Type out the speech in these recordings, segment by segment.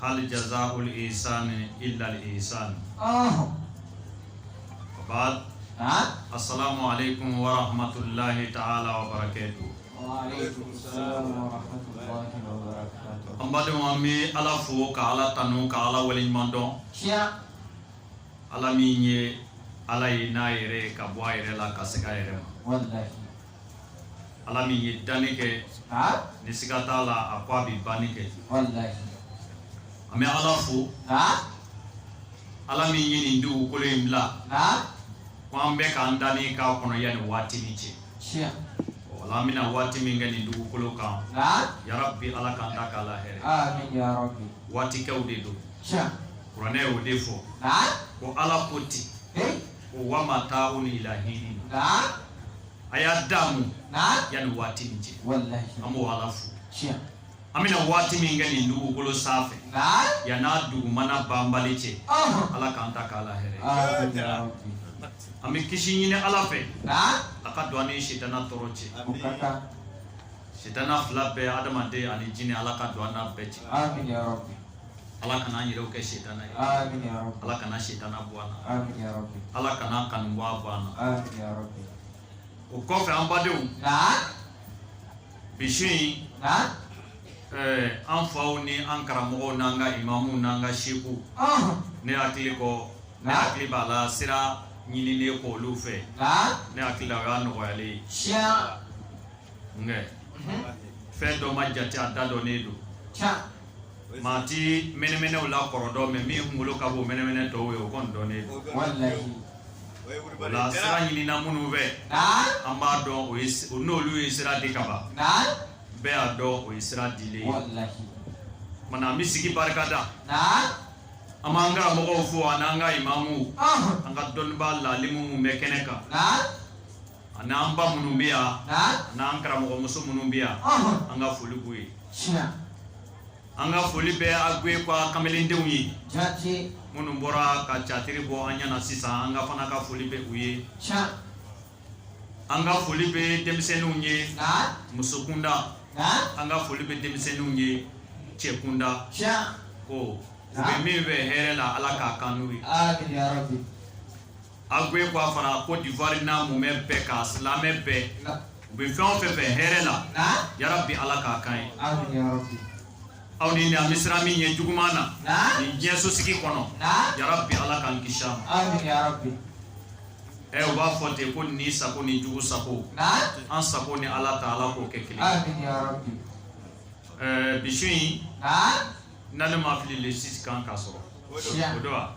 hal jazaau l ihsani illa l ihsan wa baadu asalamu alaikum warahmatulayi taala wabarakatuhu an balimaw an bɛ ala fo ka ala tanu ka ala waleɲumandɔn ala min ye ala ye n'a yɛrɛ ka bɔ a yɛrɛ la ka segin a yɛrɛ ma ala min ye danni kɛ ni siga t'a la a ko a bɛ banni kɛ an bɛ ala fo ala min ye nin dugukolo in bila ko an bɛ k'an da ni k'a kɔnɔ yanni waati ni cɛ wala an bɛna waati min kɛ nin dugukolo kan yarabi ala k'an ta k'a la hɛrɛ waati kɛw de don kuranɛ y'o de fɔ ko ala ko ten ko wa mataaun ila hiin a y'a daamu yanni waati ni cɛ an b'o ala fo an bɛna waati min kɛ nin dugukolo sanfɛ yann'a dugumana banbali cɛ ala k'an ta k'a la hɛrɛ an bɛ kisi ɲini ala fɛ a ka don an ni sitana tɔɔrɔ cɛ sitana fila bɛɛ adamaden ani jinɛ ala ka don an n'a bɛɛ cɛ ala kana an yɛrɛw kɛ setana ye ala kana setana bɔ an na ala kan'a kanubaa bɔ an na o kɔfɛ an badenw bi su in an faw ni an karamɔgɔw n'an ka imamuw n'an ka sekuw ne hakili ko ne hakili b'a la sira ɲininen kɔ olu fɛ ne hakili la o y'a nɔgɔyalen ye nka fɛn dɔ ma jate a da dɔnnen don maa tɛ mɛnɛmɛnɛw la kɔrɔ dɔn mais min kunkolo ka bon mɛnɛmɛnɛ tɔw ye o kɔni dɔnnen don o la sira ɲinina minnu fɛ an b'a dɔn ko n'olu ye sira di ka ban bɛɛ y'a dɔn o ye sira dilen ye kuma na an bɛ sigi barika da an b'an karamɔgɔw fo an'an ka imamuw an ka dɔnnibaa laalimu minnu bɛ kɛnɛ kan An'an ba minnu bɛ yan n'an karamɔgɔmuso minnu bɛ yan an ka foli b'u ye an ka foli bɛ Agbékoi kamalendenw ye minnu bɔra ka catiri bɔ an ɲɛna sisan an ka fana ka foli bɛ u ye an ka foli bɛ denmisɛnninw ye musokunda an ka foli bɛ denmisɛnninw ye cɛkunda ko u bɛ min fɛ hɛrɛ la ala k'a k'an n'u ye Agbékoi fara Côte d'Ivoire n'a mumɛ bɛɛ ka silamɛ bɛɛ u bɛ fɛn o fɛn fɛ hɛrɛ la yarabi ala k'a k'an ye aw ni an bɛ siran min ɲɛ juguman na ni diɲɛsosigi kɔnɔ yarabi ala k'an kisi a ma u b'a fɔ ten ko ni sago ni jugu sago an sago ni ala ta ala k'o kɛ kelen ɛɛ bi in Ni ne ma fili le six kan ka sɔrɔ o don wa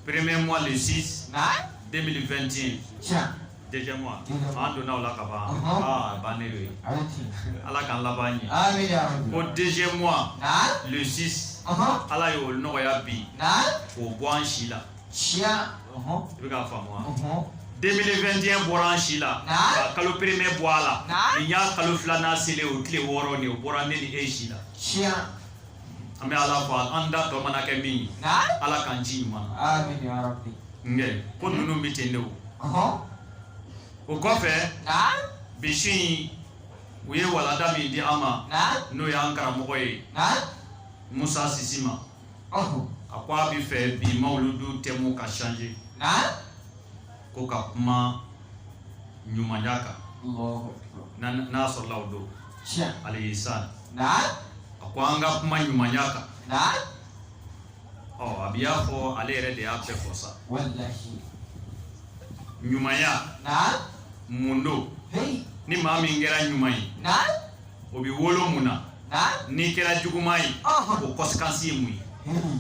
premier mois le six 2021 deuxième mois an donna o la ka ban ban ne ye ala k'an laban ɲɛ o deuxième mois le six ala y'o nɔgɔya bi k'o bɔ an si la si i bɛ k'a faamu 2021 bɔra an si la ka kalo premier bɔ a la nin y'a kalo filanan selen o tile wɔɔrɔ nin o bɔra ne ni e si la an bɛ ala fo an da tɔ mana kɛ min ye ala k'an ci ɲuman na nkɛ ko ninnu bɛ ten de o o kɔfɛ bi su in u ye walanda min di an ma n'o y'an karamɔgɔ ye musa sisima a ko a bɛ fɛ bi mawuludu thème ka changer ko ka kuma ɲumanya kan n'a sɔrɔla o don alayhi salam a ko an ka kuma ɲumanya kan ɔ a bɛ y'a fɔ ale yɛrɛ de y'a bɛɛ fɔ sa ɲumanya mun don ni maa min kɛra ɲuman ye o bɛ wolo mun na n'i kɛra juguman ye o conséquence ye mun ye hmm.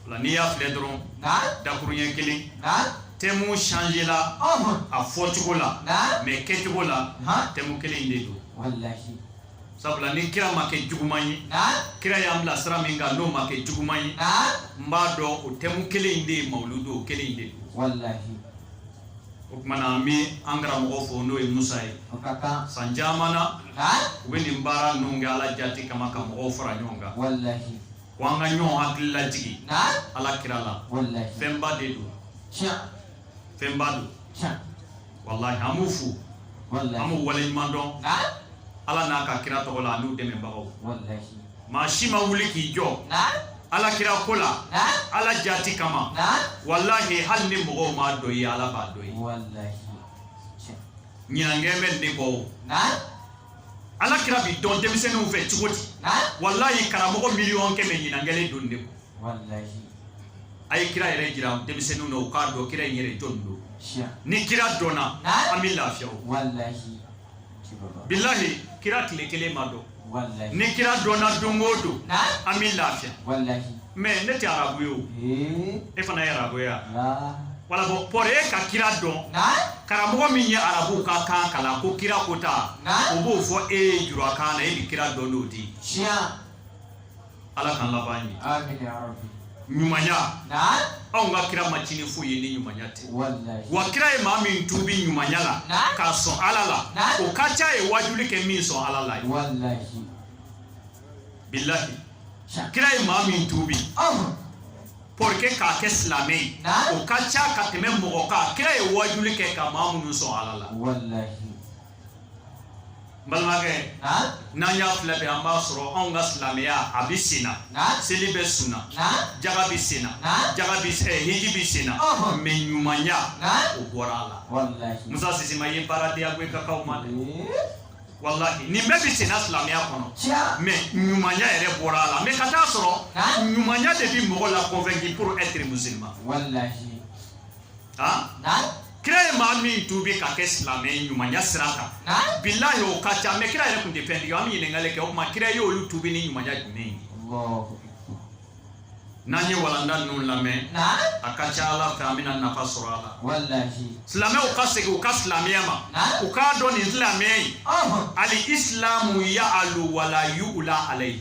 o la n'i y'a filɛ dɔrɔn dakuruɲɛ kelen thème changer la a fɔcogo la mais kɛcogo la thème kelen de don sabula ni kira ma kɛ juguman ye kira y'an bila sira min kan n'o ma kɛ juguman ye n b'a dɔn o thème kelen de ye mawuludu o kelen de don o tuma na an bɛ an karamɔgɔ fo n'o ye musa ye san caman na u bɛ nin baara ninnu kɛ ala jati kama ka mɔgɔw fara ɲɔgɔn kan ko an ka ɲɔgɔn hakili lajigi ala kira la fɛnba de don fɛnba don walahi an b'u fo an b'u waleɲuman dɔn ala n'a ka kira tɔgɔ la an'u dɛmɛbagaw maa si ma wuli k'i jɔ ala kira ko la ala jati kama walahi hali ni mɔgɔw m'a dɔ ye ala b'a dɔ ye ɲinan kɛlen bɛ nin de kɔ o ala kira bi dɔn denmisɛnninw fɛ cogo di walahi karamɔgɔ miliyɔn kɛmɛ ɲinan kɛlen don nin kɔ a ye kira yɛrɛ jira denmisɛnninw na u k'a dɔn kira in yɛrɛ jɔn don ni kira dɔnna an bɛ lafiya o bilahi kira tile kelen ma dɔn ni kira dɔnna don o don an bɛ lafiya mais ne tɛ arabu ye o e fana ye arabu ye wala bon pour e ka kira dɔn karamɔgɔ min ye arabu ka kan kalan ko kira ko ta o b'o fɔ e ye jurakan na e bɛ kira dɔn n'o di ala k'an laban ɲɛ ɲumanya anw ka kira ma ci ni foyi ye ni ɲumanya tɛ wa kira ye maa min tubi ɲumanya la k'a sɔn ala la o ka ca ye wajuli kɛ min sɔn ala la ye bilahi kira ye maa min tubi pour que k'a kɛ silamɛ ye o ka ca ka tɛmɛ mɔgɔ kan kira ye wajuli kɛ ka maa minnu sɔn ala la balimakɛ n'an y'a filɛ bɛ an b'a sɔrɔ anw ka silamɛya a bɛ sen na seli bɛ sun na jaga bɛ sen na hiji bɛ sen na mais ɲumanya o bɔra a la musa si ma ye baara di agbekoi kaw ma dɛ walahi nin bɛɛ bɛ sen na silamɛya kɔnɔ mais ɲumanya yɛrɛ bɔra a la mais ka t'a sɔrɔ ɲumanya de bɛ mɔgɔ la convaincre pour être musulman kira ye maa min tuubi ka kɛ silamɛ ɲumanya sira kan bilahi o ka ca mais kira yɛrɛ tun tɛ fɛntigi an bɛ ɲininkali kɛ o tuma kira ye olu tuubi ni ɲumanya jumɛn ye n'an ye walanda ninnu lamɛn a ka ca ala fɛ an bɛna nafa sɔrɔ a la silamɛw ka segin u ka silamɛya ma u k'a dɔn nin silamɛya in ali isilamu ya alu wala yu ula alayi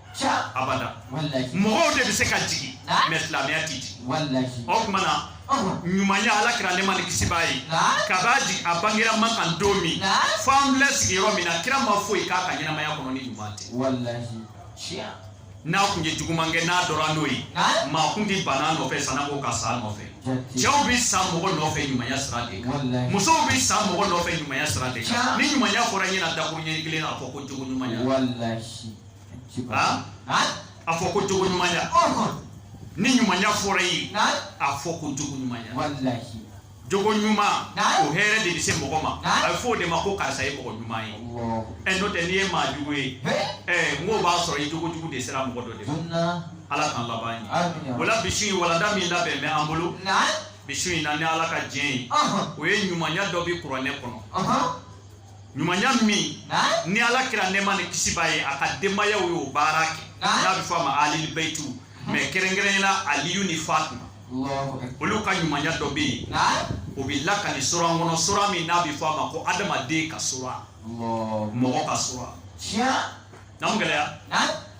abada mɔgɔw de bɛ se ka jigin mais silamɛya tɛ jigin o tuma na ɲumanya ala kira nɛɛma ni kisi b'a ye kabi a jigin a bangera makan don min fo an filɛ sigi yɔrɔ min na kira ma foyi k'a ka ɲɛnamaya kɔnɔ ni ɲuman tɛ n'a kun ye juguman kɛ n'a dɔra n'o ye maa kun tɛ ban a nɔfɛ sanko ka sa a nɔfɛ cɛw bɛ sa mɔgɔ nɔfɛ ɲumanya sira de kan musow bɛ sa mɔgɔ nɔfɛ ɲumanya sira de kan ni ɲumanya fɔra i ɲɛ na dakuruɲɛ kelen na a fɔ ko jogo ɲumanya a fɔ ko jogo ɲumanya ni ɲumanya fɔra i ye a fɔ ko jogo ɲumanya jogo ɲuman o hɛrɛ de bɛ se mɔgɔ ma a bɛ fɔ o de ma ko karisa ye mɔgɔ ɲuman ye ɛ n'o tɛ n'i ye maa jugu ye ɛ n k'o b'a sɔrɔ i jogo jugu de sera mɔgɔ dɔ de ma ala k'an laban ɲɛ o la bi su in walanda min labɛn bɛ an bolo bi su in na ni ala ka diɲɛ ye o ye ɲumanya dɔ bɛ kuranɛ kɔnɔ. ɲumanya min ni ala kira nɛɛma ni kisi b'a ye a ka denbayaw y'o baara kɛ n'a bɛ fɔ a ma alili bayitu mais kɛrɛnkɛrɛnnenya la aliyu ni fatima olu ka ɲumanya dɔ bɛ yen o bɛ lakali sura kɔnɔ sura min n'a bɛ fɔ a ma ko adamaden ka sura mɔgɔ ka sura naamu gɛlɛya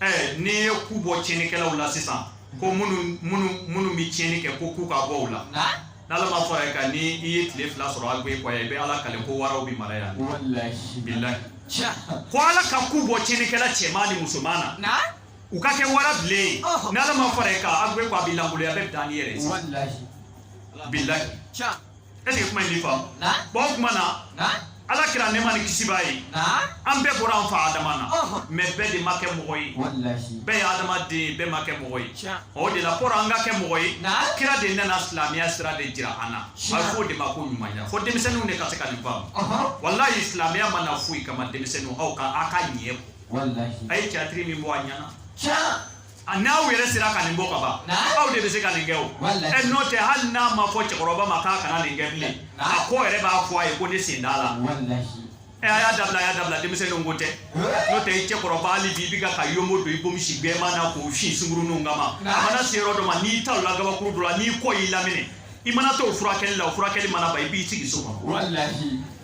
ɛɛ n'i ye ku bɔ tiɲɛnikɛlaw la sisan ko minnu bɛ tiɲɛni kɛ ko ku ka bɔ u la n'ala ma fara i kan ni i ye tile fila sɔrɔ agbekoi i bɛ ala kale ko waraw bɛ mara yan bilahi ko ala ka ku bɔ tiɲɛnikɛla cɛman ni musoman na u ka kɛ warabilen ye n'ala ma fara i kan agbekoi bɛ lankoloya a bɛ dan ni yɛrɛ bilahi est-ce que kuma in b'i faamu bon o kuma na ala kira nɛma ni kisi b'a ye an bɛɛ bɔra an fa adama na mais bɛɛ de ma kɛ mɔgɔ ye bɛɛ ye adamaden ye bɛɛ ma kɛ mɔgɔ ye o de la pour an ka kɛ mɔgɔ ye kira de nana silamɛya sira de jira an na a fɔ o de ma ko ɲumanya fo denmisɛnninw de ka se ka nin faamu walayi silamɛya ma na foyi kama denmisɛnninw aw ka aw ka ɲɛ bɔ a ye tiyatiri min bɔ a ɲɛna a n'aw yɛrɛ sera ka nin bɔ ka ban aw de bɛ se ka nin kɛ o ɛ n'o tɛ hali n'a ma fɔ cɛkɔrɔba ma k'a kana nin kɛ bilen a ko yɛrɛ b'a fɔ a ye ko ne sen t'a la ɛ a y'a dabila a y'a dabila denmisɛnninw ko tɛ n'o tɛ i cɛkɔrɔba hali bi i bɛ ka ka yonbo don i bomisi gbɛman na k'o fin sunkuruninw kama a mana se yɔrɔ dɔ ma n'i talonna gabakuru dɔ la n'i kɔ y'i laminɛ i mana t'o furakɛli la o furakɛli mana ban i b'i sigi so kɔnɔ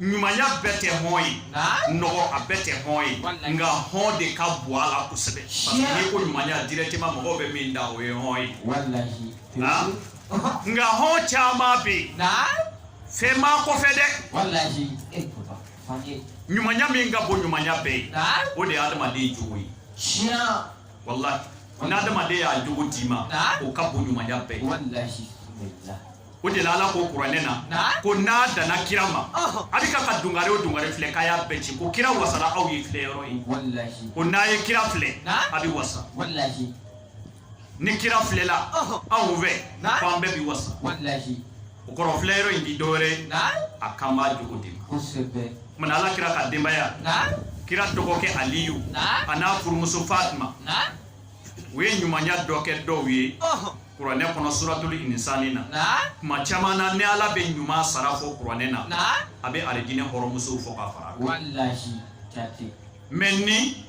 ɲumanya bɛɛ tɛ hɔn ye nɔgɔ a bɛɛ tɛ hɔn ye nka hɔn de ka bon a la kosɛbɛ parce que n'i ko ɲumanya directement mɔgɔw bɛ min da o ye hɔn ye nka hɔn caman bɛ yen fɛn b'a kɔfɛ dɛ ɲumanya min ka bon ɲumanya bɛɛ ye o de ye adamaden jogo ye walahi n'adamaden y'a jogo d'i ma o ka bon ɲumanya bɛɛ ye o de la ala ko kuranɛ na ko n'a danna kira ma a bɛ ka ka dungare o dungare filɛ k'a y'a bɛɛ ci ko kira wasara aw ye filɛ yɔrɔ ye ko n'a ye kira filɛ a bɛ wasa ni kira filɛla anw fɛ ko an bɛɛ bɛ wasa o kɔrɔ filɛ yɔrɔ in ti dɔwɛrɛ a kan b'a jogo de ma kuma na ala kira ka denbaya kira dɔgɔkɛ aliyu a n'a furumuso fatima u ye ɲumanya dɔ kɛ dɔw ye kuranɛ kɔnɔ suratuli insani na kuma caman na ni ala bɛ ɲuman sara fɔ kuranɛ na a bɛ alijinɛ hɔrɔnmusow fɔ ka fara mais ni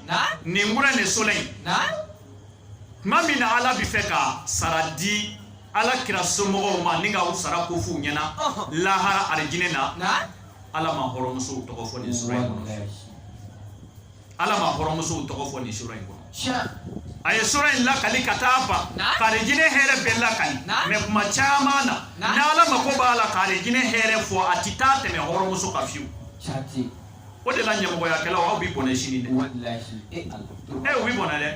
nin wura nin sura in kuma min na ala bɛ fɛ ka sara di ala kira somɔgɔw ma ni ka u sara ko f'u ɲɛna lahara alijinɛ na ala ma hɔrɔnmusow tɔgɔ fɔ nin sura in kɔnɔ ala ma hɔrɔnmusow tɔgɔ fɔ nin sura in kɔnɔ a ye sura in lakali ka taa ban k'arijinɛ hɛrɛ bɛɛ lakali mais kuma caman na ni ala mako b'a la k'arijinɛ hɛrɛ fɔ a ti taa tɛmɛ hɔrɔnmuso kan fiyewu o de la ɲamɔgɔyakɛlaw aw bi bɔnɛ sini dɛ e u bi bɔnɛ dɛ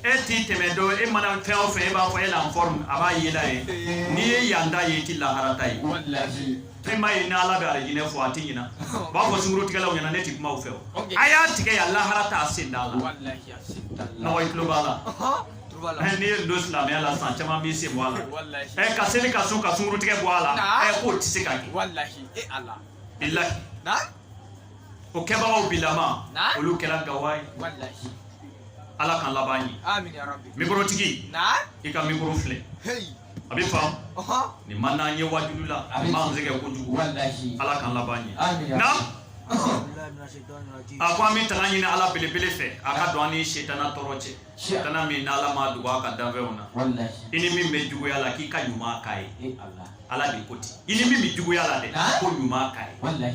e ti tɛmɛ dɔ e mana fɛn o fɛn e b'a fɔ elle est en forme a b'a yela ye n'i ye yan ta ye i ti lahara ta ye i m'a ye ni ala bɛ alijinɛ fɔ a tɛ ɲina u b'a fɔ sunkurutigɛlaw ɲɛna ne tɛ kuma u fɛ o a y'a tigɛ yan lahara ta a sen t'a la nɔgɔ i tulo b'a la ɛ n'i ye don silamɛya la san caman b'i sen bɔ a la ɛ ka seli ka sun ka sunkurutigɛ bɔ a la ɛ k'o tɛ se ka kɛ bilahi o kɛbagaw bilama olu kɛra gawa ye ala k'an laban ɲɛ mikorotigi i ka mikoro filɛ a bɛ faamu nin ma n'an ye waju dabila nin ma se kɛ kojugu ala k'an laban ɲɛ na a ko an bɛ tanga ɲini ala belebele fɛ a ka don an ni setana tɔɔrɔ cɛ setana min n'ala ma dogo a ka danfɛnw na i ni min bɛ juguya la k'i ka ɲuman k'a ye ala de ko ten i ni min bɛ juguya la dɛ ko ɲuman k'a ye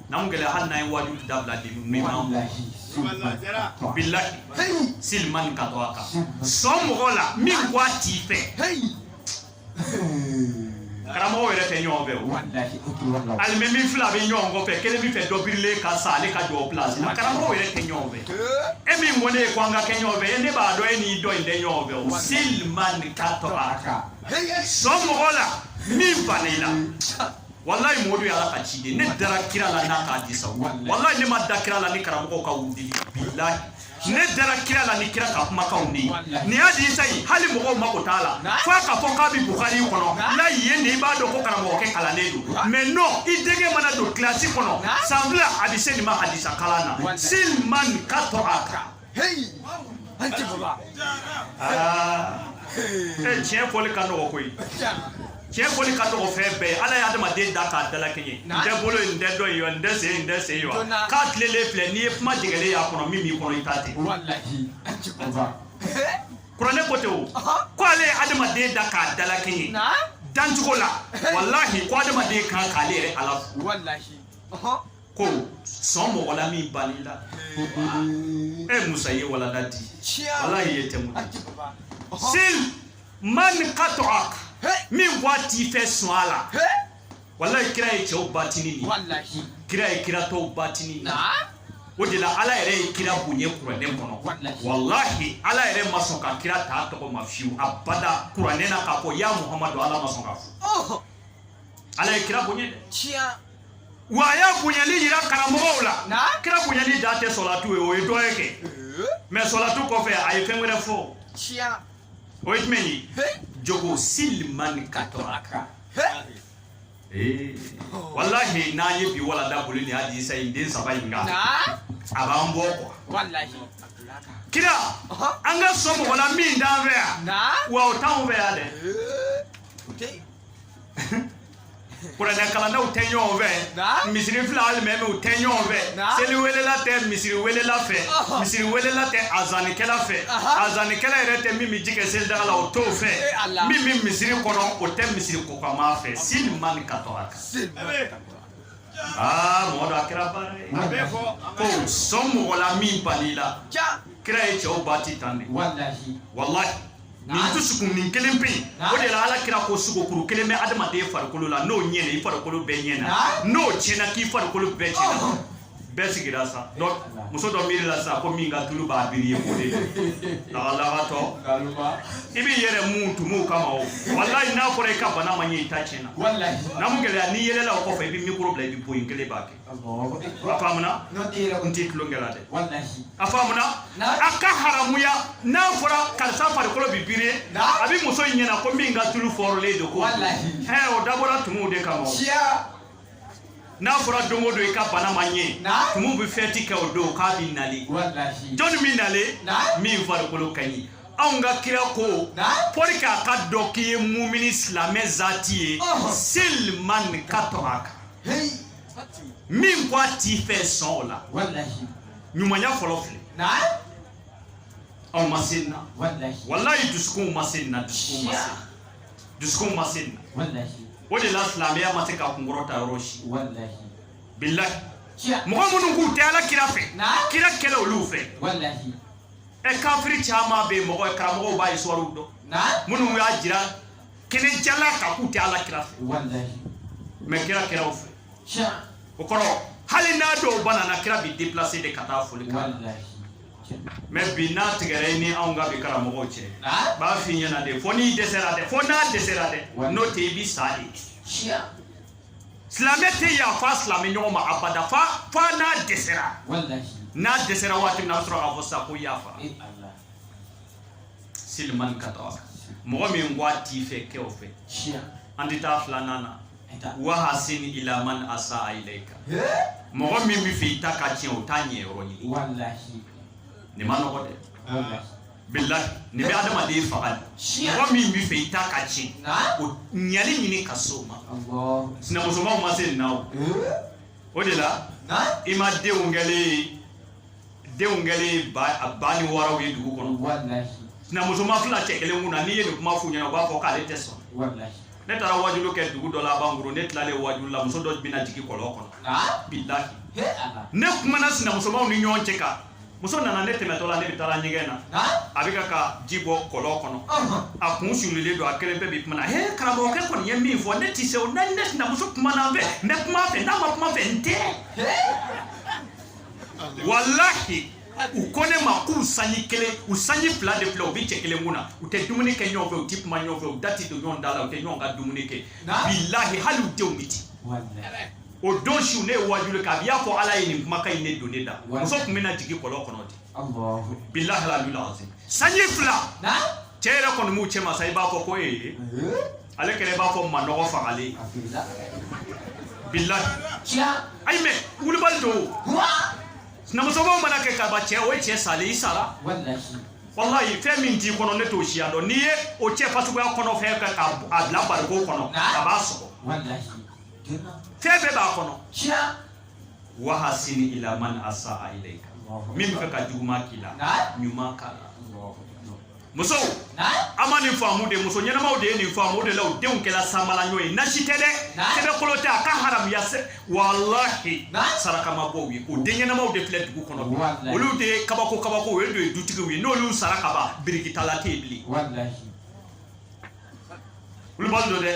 N'an gɛlɛya hali n'an ye waju dabila nin ma bilahi sil man qata'aka sɔn mɔgɔ la min ko a t'i fɛ karamɔgɔw yɛrɛ tɛ ɲɔgɔn fɛ o alimami fila bɛ ɲɔgɔn kɔfɛ kelen b'a fɛ dɔ birilen ka sa ale ka jɔ o pilasi la karamɔgɔw yɛrɛ tɛ ɲɔgɔn fɛ e min ko ne ye ko an ka kɛ ɲɔgɔn fɛ e ne b'a dɔn e ni dɔ in tɛ ɲɔgɔn fɛ o sil man qata'aka sɔn mɔgɔ la min banna i la walayi Modu y'ala ka ciden ne dara kira la n'a ka hadisa walayi ne ma da kira la ni karamɔgɔw ka wudili bilahi ne dara kira la ni kira ka kumakanw de ye nin hadisa ye hali mɔgɔw mako t'a la fo a ka fɔ k'a bɛ bukari kɔnɔ layi ye nin i b'a dɔn ko karamɔgɔkɛ kalannen don mais non i denkɛ mana don kilasi kɔnɔ san fila a bɛ se nin ma hadisa kalan na sil man qata'aka Hey! An tɛ bɔ la. Aa! Ee tiɲɛ fɔli ka nɔgɔ koyi. Tiɲɛ fɔli ka nɔgɔ fɛn bɛɛ ye. Ala ye adamaden dan k'a dalakɛɲɛ. N tɛ bolo ye, n tɛ dɔ ye wa, n tɛ sen ye, n tɛ sen ye wa. K'a tilelen filɛ, n'i ye kuma jɛngɛlen y'a kɔnɔ min b'i kɔnɔ i t'a ten. Walahi. An tɛ bɔ la. Kuranɛ ko ten o. Ko ale ye adamaden dan k'a dalakɛɲɛ. Dancogo la. Walahi ko adamaden kan k'ale yɛrɛ ala fo. Walahi. ko sɔn mɔgɔ la min bann'i la e eh, musa ye walanda di ala ye tɛmɛ sil man qat'ak min ko a t'i fɛ sɔn a la walayi kira ye cɛw batini de ye kira ye kira tɔw batini de o de la ala yɛrɛ ye kira bonya kuranɛ kɔnɔ walahi ala yɛrɛ ma sɔn ka kira ta tɔgɔ ma fiyewu abada kuranɛ na k'a fɔ ya muhamadu ala ma sɔn k'a fɔ ala ye kira bonya dɛ Wa a y'a bonyali yira karamɔgɔw la. Na? Kira bonyali dan tɛ sɔlatu ye, o ye dɔ ye kɛ. Ee. Mais sɔlatu kɔfɛ a ye fɛn wɛrɛ fɔ. Tiɲɛ. O ye jumɛn ye? Jogo sil man qata'aka. Ee. Oh. Walahi n'an ye bi walanda boli ni hadisa in den saba in kan. Na? A b'an bɔ quoi. Walahi. Kira, an ka sɔn mɔgɔ la min t'an fɛ yan. Na? Wa o t'anw fɛ yan dɛ. Ee. O tɛ yen. kuranɛ kalannaw tɛ ɲɔgɔn fɛ misiri fila alimamiw tɛ ɲɔgɔn fɛ seli welela tɛ misiri welela fɛ misiri welela tɛ azanikɛla fɛ azanikɛla yɛrɛ tɛ min bɛ ji kɛ selidaga la o t'o fɛ min bɛ misiri kɔnɔ o tɛ misiri kokama fɛ sil man qata'aka aa mɔgɔ dɔ a kɛra baara ye ko sɔn mɔgɔ la min bann'i la kira ye cɛw ba ti tan de walahi nin dusukun nin kelen pe o de la ala kira ko sogokuru kelen bɛ adamaden farikolo la n'o ɲɛna i farikolo bɛɛ ɲɛna n'o tiɲɛna k'i farikolo bɛɛ tiɲɛna oh. bɛɛ sigira sa muso dɔ miiri la sa ko min ka tulu b'a briller o de ye lagalagantɔ i b'i yɛrɛ mun tumuw kama o walayi n'a fɔra i ka bana ma ɲɛ i ta tiɲɛna na mun gɛlɛya n'i yɛlɛla o kɔfɛ i bɛ mikoro bila i bɛ bo yen kelen b'a kɛ faamuna n ti tulon kɛ la dɛ a faamuna a ka haramuya n'a fɔra karisa farikolo bi briller a bi muso in ɲɛna ko min ka tulu fɔrɔlen don ko hɛn o dabɔra tumuw de kama n'a fɔra don o don i ka bana ma ɲɛ tumu bi fɛti kɛ o don k'a bi nali jɔn min nalen min farikolo ka ɲi anw ka kira ko pour que a ka dɔn k'i ye mumini silamɛ zati ye sil man kata'aka heyi min ko a t'i fɛ sɔn o la walahi ɲumanya fɔlɔ filɛ na aw ma se nin na walahi walayi dusukunw ma se nin na dusukunw ma se dusukunw ma se nin na walahi o de la silamɛya ma se ka kunkɔrɔta yɔrɔ si walahi bilahi tiɲɛ mɔgɔ minnu k'u tɛ ala kira fɛ na kira kɛlen olu fɛ walahi ɛ kafiri caman bɛ yen mɔgɔ karamɔgɔw b'a histoire dɔn na minnu y'a jira kɛnɛ jalan kan k'u tɛ ala kira fɛ mais kira kɛra u fɛ o kɔrɔ hali n'a dɔw banana kira bi déplacer de ka taa foli kan mais bi n'a tigɛra i ni anw ka bi karamɔgɔw cɛ b'a f'i ɲɛna de fo n'i dɛsɛra dɛ fo n'a dɛsɛra dɛ n'o tɛ i bi sa de silamɛ tɛ yafa silamɛ ɲɔgɔn ma abada fo fo n'a dɛsɛra n'a dɛsɛra waati min na a bɛ sɔrɔ k'a fɔ sa ko yafa sil man kata'ak mɔgɔ min ko a t'i fɛ kɛ o fɛ an tɛ taa filanan na wahasin ila man asa ilayka mɔgɔ min bɛ fɛ i ta ka tiɲɛ o ta ɲɛyɔrɔ ɲini nin man nɔgɔn dɛ bilahi nin bɛ adamaden faga de mɔgɔ min bɛ fɛ i ta ka tiɲɛ o ɲɛli ɲini ka s'o ma sinamusomaw ma se nin na o o de la i ma denw kɛlen denw kɛlen ba a ba ni wɔɔrɔw ye dugu kɔnɔ walahi sinamusoma fila cɛ kelen kun na n'i ye nin kuma f'u ɲɛna u b'a fɔ k'ale tɛ sɔn walahi ne taara wajulu kɛ dugu dɔ la bankoro ne tilalen wajulu la muso dɔ bɛna jigin kɔlɔn kɔnɔ ah bilahi he ala ne kumana sinamusomaw ni ɲɔgɔn cɛ kan muso nana ne tɛmɛtɔ la ne bɛ taara ɲɛgɛn na ah a bɛ ka ka ji bɔ kɔlɔn kɔnɔ ɔhɔn a kun sulilen don a kelen bɛɛ bi kuma na he karamɔgɔkɛ kɔni ye min fɔ ne tɛ se o na ne sinamuso kumana n fɛ n bɛ kuma a fɛ n'a ma kuma n fɛ n tɛ he walahi u ko ne ma k'u sanji kelen u sanji fila de filɛ u bɛ cɛ kelen kun na u tɛ dumuni kɛ ɲɔgɔn fɛ u tɛ kuma ɲɔgɔn fɛ u da tɛ don ɲɔgɔn da la u tɛ ɲɔgɔn ka dumuni kɛ bilahi hali u denw bɛ ten o don su ne ye waajuli kɛ a y'a fɔ ala ye nin kumakan in de don ne da muso tun bɛna jigin kɔlɔn kɔnɔ dɛ bilahi alalula sanji fila cɛ yɛrɛ kɔni b'u cɛ ma sa i b'a fɔ ko ee ale kɛlen b'a fɔ manɔgɔ fagalen bilahi ayi mɛ wulibali don sinamusokow mana kɛ ka ban cɛ o ye cɛ salen i sara walayi fɛn min t'i kɔnɔ ne t'o siya dɔn n'i ye o cɛ fasuguya kɔnɔ fɛn fɛn k'a bila bariko kɔnɔ a b'a sɔgɔ fɛn bɛɛ b'a kɔnɔ wahasini ila man asa ilayka min bɛ fɛ ka juguman k'i la ɲuman k'a la musow an ma nin faamu de muso ɲɛnamaw de ye nin faamu o de la u denw kɛla sanbalaɲɔ ye nasi tɛ dɛ sɛbɛkolo tɛ a ka haramuya sɛ walahi saraka ma bɔ u ye o den ɲɛnamaw de filɛ dugu kɔnɔ olu de ye kabako kabako olu de ye dutigiw ye n'olu sara ka ban birikitala tɛ yen bilen olu b'a dɔn dɛ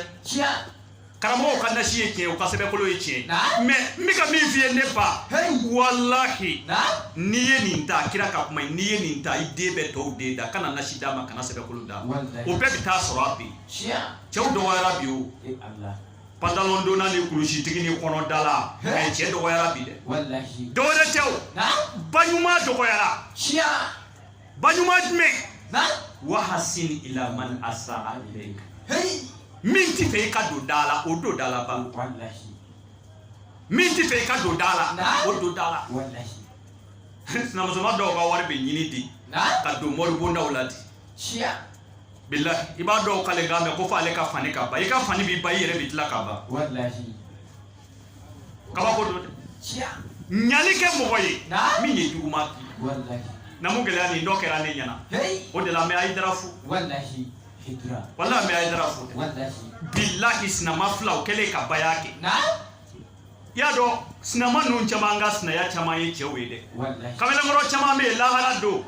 karamɔgɔw ka nasi ye tiɲɛ u ka sɛbɛkolo ye tiɲɛ Naam. mɛ n bɛ ka min f'i ye ne ba Hey. walahi Naam. n'i ye nin ta kira ka kuma ye n'i ye nin ta i den bɛ tɔw den dan kana nasi d'a ma kana sɛbɛkolo d'a ma Walahi. o bɛɛ bɛ taa sɔrɔ a bi Tiɲɛ. cɛw dɔgɔyara bi o E Ala. pantalon donna ni kulusitigi ni kɔnɔ da la Hey. mɛ cɛ dɔgɔyara bi dɛ Walahi. dɔwɛrɛ tɛ o Naam. ba ɲuman dɔgɔyara Tiɲɛ. ba ɲuman jumɛn Naam. wahasin ila man asa ilayka Hey. min tɛ fɛ i ka don da la o don da la ba min tɛ fɛ i ka don da la o don da la sinamusoma dɔw ka wari bɛ ɲini de ka don moribondaw la dɛ bilahi i b'a dɔw k'ale kan mɛ ko fɔ ale ka fani ka ban i ka fani b'i ban i yɛrɛ bɛ tila ka ban kabako don dɛ ɲuman kɛ mɔgɔ ye min ye juguman k'i na mun gɛlɛya nin dɔ kɛra ne ɲɛna o de la n bɛ ayidara fo walahi n bɛ ayidara fo bilahi sinama filaw kɛlen ka baya kɛ i y'a dɔn sinama ninnu caman ka sinaya caman ye cɛw ye dɛ kamalenkɔrɔ caman bɛ yen lahara don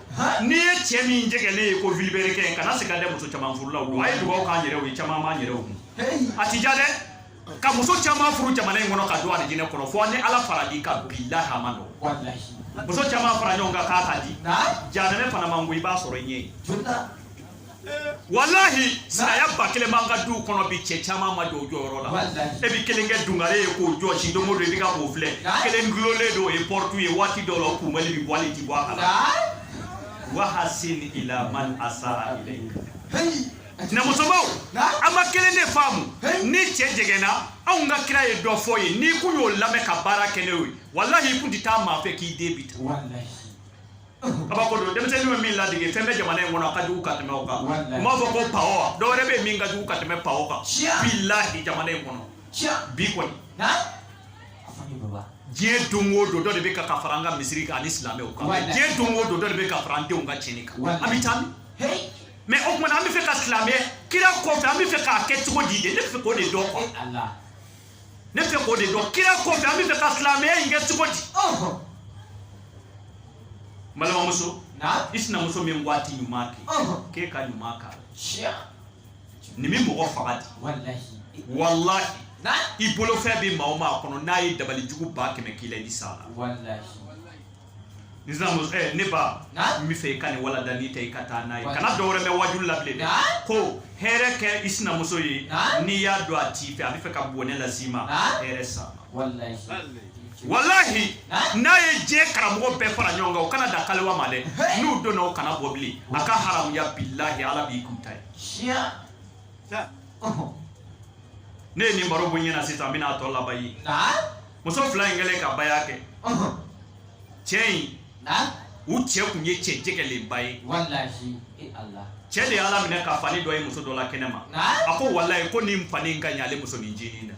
n'i ye cɛ min jɛngɛlen ye ko vilebrequin kana siga dɛ muso caman furula don a ye dugawu k'an yɛrɛw ye caman b'an yɛrɛw kun a tɛ diya dɛ ka muso caman furu jamana in kɔnɔ ka don alijinɛ kɔnɔ fo ni ala fara i kan bilahi a man nɔgɔn muso caman fara ɲɔgɔn kan k'a ka di jahanɛmɛ fana man go i b'a sɔrɔ i ɲɛ ye walahi sinaya ba kelen b'an ka duw kɔnɔ bi cɛ caman ma jɔ o jɔyɔrɔ la e bɛ kelen kɛ dungare ye k'o jɔsi don o don i bɛ ka k'o filɛ kelen gulonlen don o ye pɔritu ye waati dɔw la o kunbɛli bɛ bɔ ale ti bɔ a kala wahasin ila man asara ilayka na musobaw an ma kelen de faamu ni cɛ jɛgɛnna anw ka kira ye dɔ fɔ ye n'i kun y'o lamɛn ka baara kɛ n'o ye walahi i kun tɛ taa maa fɛ k'i den bi ta kabako don denmisɛnnin bɛ min ladege fɛn bɛ jamana in kɔnɔ a ka jugu ka tɛmɛ o kan n b'a fɔ ko pawo dɔ wɛrɛ bɛ min ka jugu ka tɛmɛ pawo kan bilahi jamana in kɔnɔ bi kɔni diɲɛ don o don dɔ de bɛ ka ka fara an ka misiri kan ani silamɛw kan diɲɛ don o don dɔ de bɛ ka fara an denw ka tiɲɛni kan an bɛ taa min mɛ o tuma an bɛ fɛ ka silamɛ kira kɔfɛ an bɛ fɛ k'a kɛ cogo di de ne bɛ fɛ k'o de dɔn kuwa ne fɛ k'o de dɔn kira kɔfɛ an bɛ fɛ ka silamɛya in kɛ cogo di balimamuso i sinamuso min ko a ti ɲuman kɛ k'e ka ɲuman k'a la nin bɛ mɔgɔ faga di walahi i bolofɛn bɛ maa o maa kɔnɔ n'a ye dabali jugu ba kɛmɛ k'i la i bɛ s'a la ni sinamuso ɛ ne ba n bɛ fɛ i ka nin walanda nin ta i ka taa n'a ye kana dɔ wɛrɛ mɛn wajulu la bilen dɛ ko hɛrɛ kɛ i sinamuso ye n'i y'a dɔn a t'i fɛ a bɛ fɛ ka bɔnɛ las'i ma hɛrɛ s'a ma walahi n'a ye diɲɛ karamɔgɔ bɛɛ fara ɲɔgɔn kan o kana da kaliwa ma dɛ n'u donna o kana bɔ bilen a ka haramuya bilahi ala b'i kun ta ye ne ye nin baro bɔ n ɲɛna sisan n bɛna a tɔ laban ye muso fila in kɛlen ka baya kɛ cɛ in u cɛ kun ye cɛ jɛgɛlenba ye e cɛ de ye ala minɛ ka fani dɔ ye muso dɔ la kɛnɛ ma a ko walayi ko nin fani in ka ɲi ale muso nin ncinin na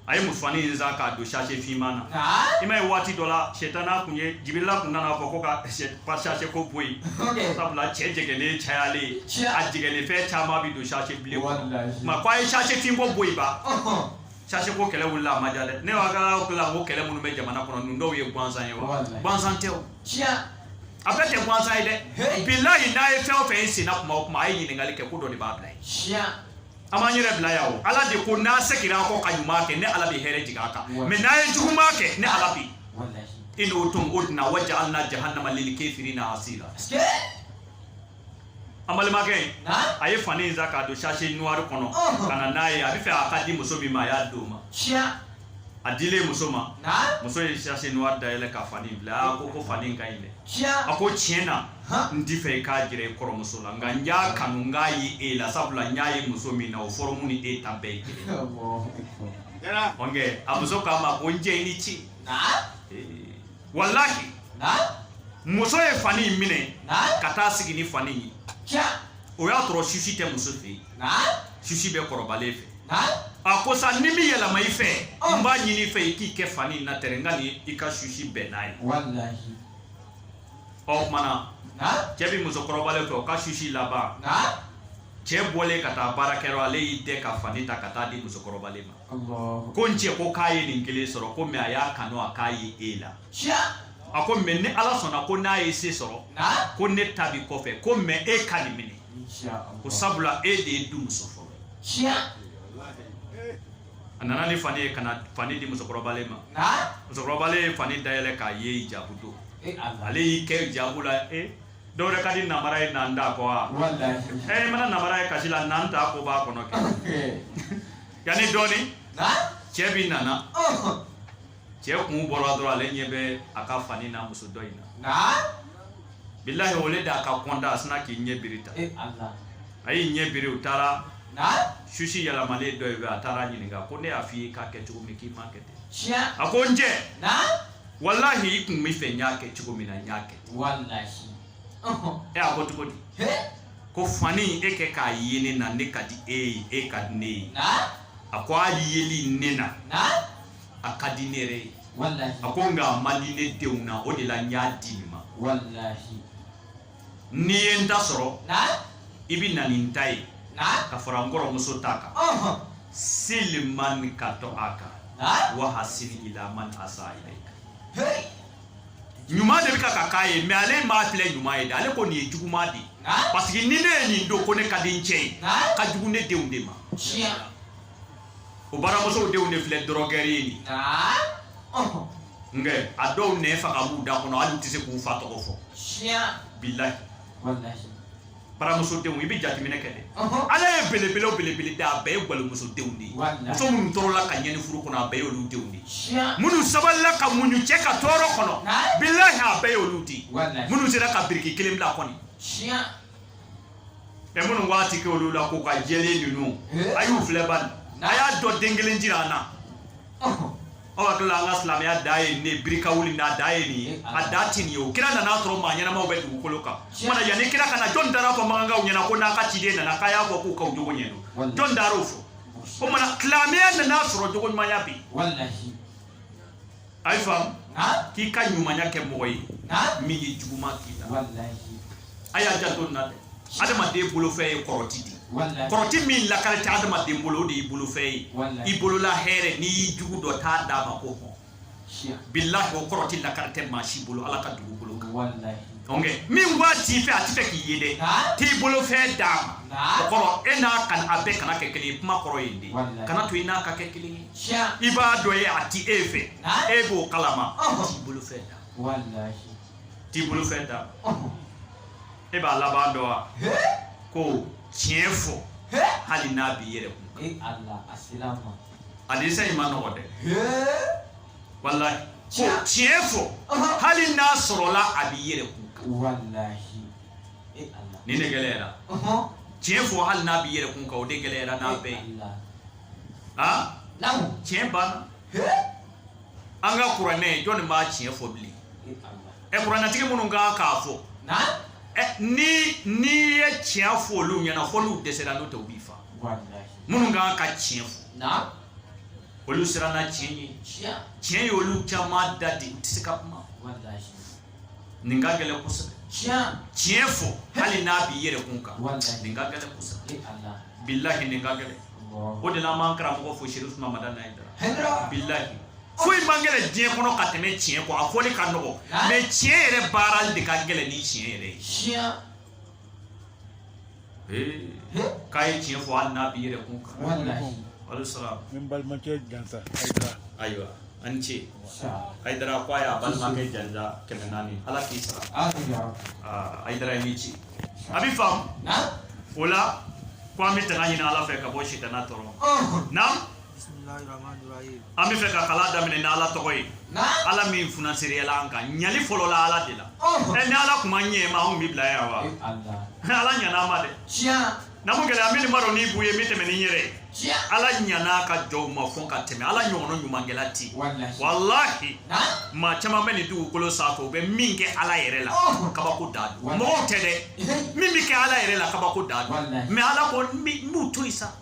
a ye musofani in san k'a don sase finman na i ma ye waati dɔ la sɛtana kun ye jibirila kun nana fɔ ko ka sase ko bɔ yen sabula cɛ jɛgɛlen cayalen a jɛgɛlen fɛn caman bɛ don sase bilen kɔnɔ ma ko a ye sase fin ko bɔ yen ba sase ko kɛlɛ wulila a ma ja dɛ ne b'a ka kila ko kɛlɛ minnu bɛ jamana kɔnɔ ninnu dɔw ye gansan ye wa gansan tɛ o a bɛɛ tɛ gansan ye dɛ bilayi n'a ye fɛn o fɛn ye senna kuma o kuma a ye ɲininkali kɛ ko dɔ de b'a bila ye an b'an yɛrɛ bila yan o ala de ko n'a seginna a kɔ ka ɲuman kɛ ne ala bɛ hɛrɛ jigin a kan mɛ n'a ye juguman kɛ ne ala bɛ in udutum uduna waja'alna jahannama lil kafirina asira an balimakɛ a ye fani in san k'a don sase nuwari kɔnɔ ka na n'a ye a bɛ fɛ a ka di muso min ma a y'a di o ma a dilen muso ma muso ye sachet noir dayɛlɛ ka fani bila a ko ko fani in ka ɲi dɛ a ko tiɲɛ na n t'i fɛ i k'a jira i kɔrɔmuso la nka n y'a kanu n k'a ye e la sabula n y'a ye muso min na o fɔrɔmu ni e ta bɛɛ ye kelen ɔnkɛ a muso k'a ma ko n cɛ i ni ci walahi muso ye fani in minɛ ka taa sigi ni fani in ye o y'a sɔrɔ susi tɛ muso fɛ yen susi bɛ kɔrɔbalen fɛ a ko sani n bi yɛlɛma i fɛ oh. n b'a ɲini i fɛ i k'i kɛ fani in na tɛrɛ n ka ni i ka susi bɛn n'a ye o kuma na cɛ bi musokɔrɔbalen fɛ o ka susi laban cɛ bɔlen ka taa baarakɛyɔrɔ ale y'i dɛ ka fani ta ka taa di musokɔrɔbalen ma ko n cɛ ko k'a ye nin kelen sɔrɔ ko mɛ a y'a kanu a k'a ye e la a ko mɛ ni ala sɔnna ko n'a ye se sɔrɔ ko ne ta bi kɔfɛ ko mɛ e ka nin minɛ ko sabula e de ye du muso fɔlɔ ye a nana ni fani ye ka na fani di musokɔrɔbalen ma musokɔrɔbalen ye fani dayɛlɛ k'a ye hijabu don e, ale y'i kɛ hijabu la e eh? dɔw yɛrɛ ka di namara ye nata ko wa ɛ eh, i mana namara ye kasi la nata ko b'a kɔnɔ kɛ yanni dɔɔni cɛ bi nana cɛ kun bɔra dɔrɔn ale ɲɛ bɛ a ka fani n'a muso dɔ in na bilahi o le d'a ka kɔntan a sinna k'i ɲɛ biri ta eh, a y'i ɲɛ biri u taara susi yɛlɛmalen dɔ ye a taara ɲininka ko ne y'a f'i ye k'a kɛ cogo min k'i m'a kɛ ten a ko n cɛ walahi i kun b'i fɛ n y'a kɛ cogo min na n y'a kɛ ɛ a ko cogo di ko fani e kɛ k'a ye ne na ne ka di e ye e ka di ne ye a ko a yeli ne na a ka di ne yɛrɛ ye a ko nka a man di ne denw na o de la n y'a di nin ma n'i ye n ta sɔrɔ i bɛ na ni n ta ye ka fara n kɔrɔmuso ta kan seli man ka to a kan wa hasini ila man asa ilayka ɲuman de bɛ ka ka k'a ye mɛ ale m'a filɛ ɲuman ye dɛ ale ko nin ye juguman de ye parce que ni ne ye nin don ko ne ka di n cɛ ye ka jugu ne denw de ma o baramusow denw de filɛ dɔrɔgɛri ye nin nka a dɔw nɛn faga b'u da kɔnɔ hali u tɛ se k'u fa tɔgɔ fɔ bilahi baramuso denw i bɛ jateminɛ kɛ dɛ ala ye belebelew belebele da a bɛɛ ye gwalimuso denw de ye muso minnu tɔɔrɔla ka ɲɛni furu kɔnɔ a bɛɛ ye olu denw de ye minnu sabalila ka muɲu cɛ ka tɔɔrɔ kɔnɔ bilahi a bɛɛ ye olu de ye minnu sera ka biriki kelen bila kɔni ɛ minnu k'a ti kɛ olu la k'u ka jɛlen ninnu eh? a y'u filɛ bani a y'a dɔn den kelen jira an na aw hakili la an ka silamɛya da ye nin ye birika wuli n'a da ye nin ye eh, a da ti nin ye o kira nana sɔrɔ maa ɲɛnamaw bɛ dugukolo kan o tuma na yanni kira ka na jɔn taara fɔ makankaw ɲɛ na ko n'an ka ciden nana k'a y'a fɔ k'u k'aw jogo ɲɛ don jɔn taar'o fɔ o tuma na silamɛya nana sɔrɔ jogo ɲumanya bɛ yen A y'a faamu k'i ka ɲumanya kɛ mɔgɔ ye min ye juguman k'i la a y'a janto nin na dɛ adamaden bolofɛn ye kɔrɔti de ye kɔrɔti min lakari tɛ adamaden bolo o de y'i bolofɛn ye i bolola hɛrɛ n'i y'i jugu dɔn t'a d'a ma ko hɔn bilahi o kɔrɔti lakari tɛ maa si bolo Ala ka dugukolo kan donc min b'a t'i fɛ a tɛ fɛ k'i ye dɛ t'i bolofɛn d'a ma o kɔrɔ e n'a a bɛɛ kana kɛ kelen ye kuma kɔrɔ ye nin de ye kan'a to i n'a ka kɛ kelen ye i bɛ dɔ ye a ti e fɛ e b'o kalama t'i bolofɛn d'a t'i bolofɛn d'a e b'a laban dɔn wa ko tiɲɛ fɔ hali n'a b'i yɛrɛ kun e hadisa in man nɔgɔ dɛ walahi ko tiɲɛ fɔ hali n'a sɔrɔla a b'i yɛrɛ kun nin de gɛlɛyara tiɲɛ fɔ hali n'a b'i yɛrɛ kun kan o de gɛlɛyara n'a bɛɛ ye tiɲɛ banna an ka kuranɛ jɔn de b'a tiɲɛ fɔ bilen ɛ kuranɛtigi minnu kan k'a fɔ n'i ye tiɲɛ fɔ olu ɲɛ na fo n'u dɛsɛra n'o tɛ u b'i faa minnu kan ka tiɲɛ fɔ olu siranna tiɲɛ ye tiɲɛ ye olu caman da de u tɛ se ka kuma nin ka gɛlɛn kosɛbɛ tiɲɛ fɔ hali n'a b'i yɛrɛ kun kan Walahi. nin ka gɛlɛn kosɛbɛ e ala bilahi nin ka gɛlɛn Allahu o de la an b'an karamɔgɔ fo sherifu Usman Madani Ayidara Hɛrɛ. bilahi foyi man gɛlɛn diɲɛ kɔnɔ ka tɛmɛ tiɲɛ kɔ a fɔli ka nɔgɔ mais tiɲɛ yɛrɛ baarali de ka gɛlɛn ni tiɲɛ yɛrɛ ye tiɲɛ k'a ye tiɲɛ fɔ hali n'a b'i yɛrɛ kun kan ala i sara n balimakɛ jansa ayidara ayiwa a ni ce ayidara ko a y'a balimakɛ jansa kɛmɛ naani ala k'i sara ayidara ye min ci a bɛ faamu o la ko an bɛ tanga ɲini ala fɛ ka bɔ sitana tɔɔrɔ na an b'a fɛ ka kalan daminɛ ni ala tɔgɔ ye ala min funasiriyala an kan ɲali fɔlɔla ala de la ɛ ni ala tun ma ɲɛ an ma anw bɛ bila yan wa ala ɲana an ma dɛ na mun gɛlɛya min b'a dɔn n'i b'u ye min tɛmɛ ni n yɛrɛ ye ala ɲan'a ka jɔnw ma fo ka tɛmɛ ala ɲɔgɔnna ɲumankɛla ti walahi maa caman bɛ nin dugukolo sanfɛ u bɛ min kɛ ala yɛrɛ la kabako de don mɔgɔw tɛ dɛ min bɛ kɛ ala yɛrɛ la kabako de don mais ala ko n b'u to yen sa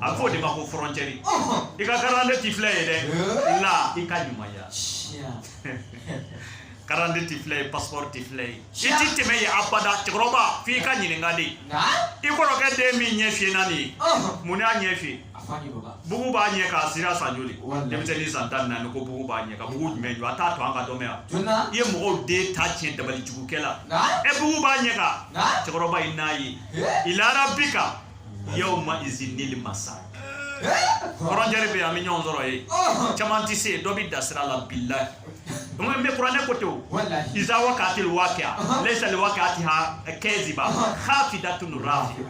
a fɔ o de ma ko frontière i ka karande ti filɛ yen dɛ la i ka ɲumanya karande ti filɛ yen passeport ti filɛ yen i ti tɛmɛ yen abada cɛkɔrɔba f'i ka ɲininka de i kɔrɔkɛ den min ɲɛ fiyenna nin ye mun y'a ɲɛ fiyen bugu b'a ɲɛ kan sira san joli denmisɛnnin san tan naani ko bugu b'a ɲɛ kan bugu jumɛn jɔ a t'a to an ka dɔ mɛn yan i ye mɔgɔw den ta tiɲɛ dabali jugu kɛ la ɛ bugu b'a ɲɛ kan cɛkɔrɔba i n'a ye i lara bi kan yawma izinil masaq frontière eh? bɛ an bɛ ɲɔgɔn sɔrɔ yen oh. caman tɛ se dɔ bɛ da sira la bilahi kuma bɛ kuranɛ ko ten o iza waqa'atil waqi'a uh-huh. laysa li waqa'atiha eh, kaziba uh-huh. khafidatun rafia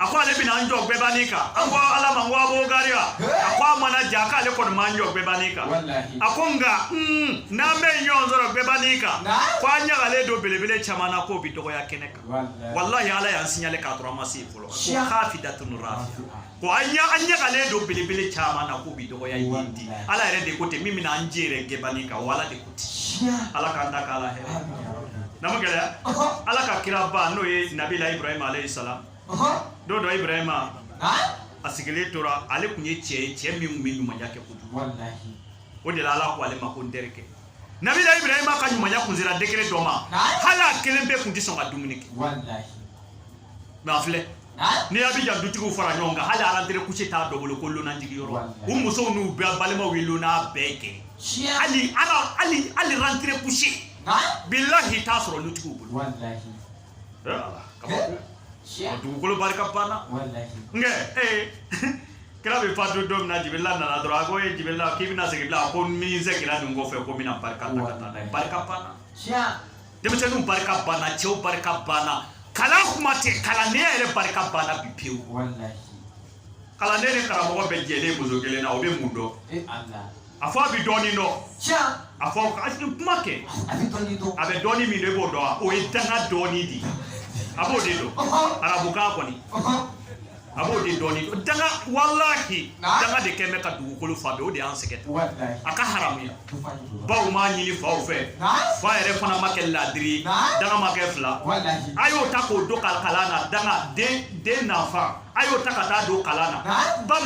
a ko ale bina an jɔ gɛba nin kan an ko ala ma n ko a b'o gari wa a ko a mana ja k'ale kɔni ma an jɔ gɛba nin kan a ko nka n'an bɛ ɲɔgɔn sɔrɔ gɛba nin kan ko an ɲagalen don belebele caman na k'u bi dɔgɔya kɛnɛ kan walahi ala y'an signalé k'a sɔrɔ an ma se yen fɔlɔ ko khafidatun rafia ko an ɲɛ an ɲagalen don belebele caman na k'u bi dɔgɔya yen di ala yɛrɛ de ko ten min bɛna an jɔ yɛrɛ gɛba nin kan o ala de ko ten ala k'an ta k'a la hɛrɛ na ma gɛlɛya ala ka kira ba n'o ye nabila ibrahima alayhi salam don dɔ ibrahima a sigilen tora ale tun ye cɛ ye cɛ min tun bɛ ɲumanya kɛ kojugu o de la ala ko ale ma ko n terikɛ nabila ibrahima ka ɲumanya kun sera degré dɔ ma hali a kelen pe kun tɛ sɔn ka dumuni kɛ mais a filɛ n'i ye Abidjan dutigiw fara ɲɔgɔn kan hali rentrée couchée t'a dɔ bolo ko lona jigi yɔrɔ u musow n'u bɛɛ balimaw ye lona gɛn kɛ hali ala hali hali rentrée couchée bilahi t'a sɔrɔ lutigiw bolo dugukolo barika banna nkɛ ee kira bɛ fatu don min na jibirila nana dɔrɔn a ko ye jibirila k'i bɛna segin bilen a ko ni n seginna nin kɔfɛ ko n bɛna barika ta ka taa n'a ye barika banna denmisɛnninw barika banna cɛw barika banna kalan kuma tɛ kalandenya yɛrɛ barika banna bi pewu kalanden ni karamɔgɔ bɛɛ jɛlen muso kelen na o bɛ mun dɔn a fɔ a bɛ dɔɔnin dɔn tiɲɛ a fɔ a tɛ kuma kɛ a bɛ dɔɔnin dɔn a bɛ dɔɔnin min dɔn e b'o dɔn wa o ye danga dɔɔnin de ye a b'o de dɔn Ɔhɔn. arabukan kɔni Ɔhɔn. a b'o de dɔɔnin dɔn danga walahi Nka? danga de kɛlen bɛ ka dugukolo fa bɛɛ o de y'an sɛgɛn walayi a ka haramuya du fa de don baw m'a ɲini faw fɛ nka fa yɛrɛ fana ma kɛ laadiri ye Nka? danga ma kɛ fila walayi a y'o ta k'o don ka kalan na danga den den nafa a y'o ta ka taa don kalan na ba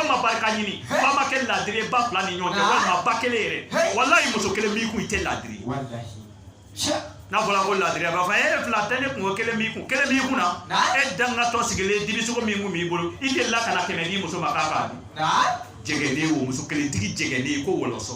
ma barika ɲini ba ma kɛ laadiri ye ba fila ni ɲɔgɔn cɛ walima ba kelen yɛrɛ walayi muso kelen b'i kun i tɛ laadiri ye n'a fɔra ko laadiri a b'a fɔ e fila tɛ ne kun ko kelen b'i kun kelen b'i kun na e dangatɔ sigilen dibisogo min kun b'i bolo i delila ka na kɛmɛ di muso ma k'a k'a dun jɛngɛlen o muso kelentigi jɛngɛlen ko wɔlɔsɔ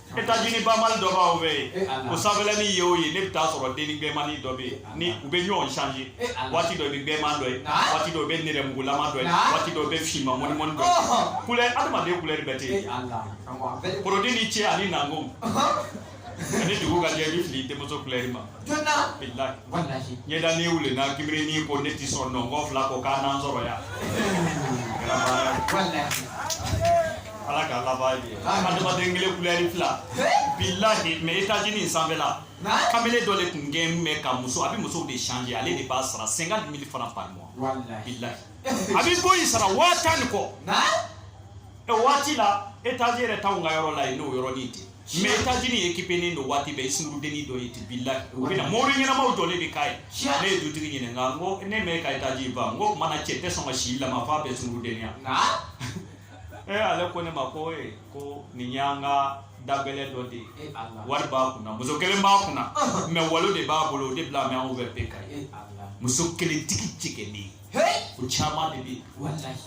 Etazini ba mali dɔba o bɛ yen o sanfɛla ni ye o ye ne bɛ taa sɔrɔ dennin bilenmannin dɔ bɛ yen ni u bɛ ɲɔgɔn change waati dɔ bɛ bilenman dɔ ye waati dɔ bɛ nɛrɛmugulama dɔ ye waati dɔ bɛ finman mɔnimɔ dɔ kulɛ adamaden kulɛ bɛ ten porodi ni cɛ ani nɔgɔ yani dugu ka jɛ i bɛ fili denmuso kulɛ ma jɔnna bilahi walahi ɲɛda ni wuli na kibiri ni ko ne ti sɔn nɔnkɔ fila ko kana n sɔrɔ yan kɛra baara ye. walahi ala ka laban ye adamaden kelen kulɛri fila bilahi mɛ etazini in sanfɛla na kamalen dɔ de tun gɛn bɛ ka muso a bɛ musow de change ale de bɛ sara cinquante mille francs par mois walahi bilahi a bɛ boyi sara waa tan ni kɔ na ɛ waati la etazini yɛrɛ t'anw ka yɔrɔ la yen n'o yɔrɔnin tɛ mais etazini ekipenen don waati bɛɛ i sungurundennin dɔ ye ti bilahi u bɛna mori ɲɛnamaw jɔlen de k'a ye ne ye dutigi ɲininka n ko ne mɛ ka etazini ba n ko mana cɛ tɛ sɔn ka si lama f'a bɛɛ sungurundenya ee ale ko ne ma ko ee ko nin y'an ka dabɛlɛ dɔ de ye e wari b'a kunna muso kelen b'a kunna mɛ walo de b'a bolo o de bila mɛ anw bɛ pe ka ye muso kelentigi cɛkɛlen o caman de bɛ yen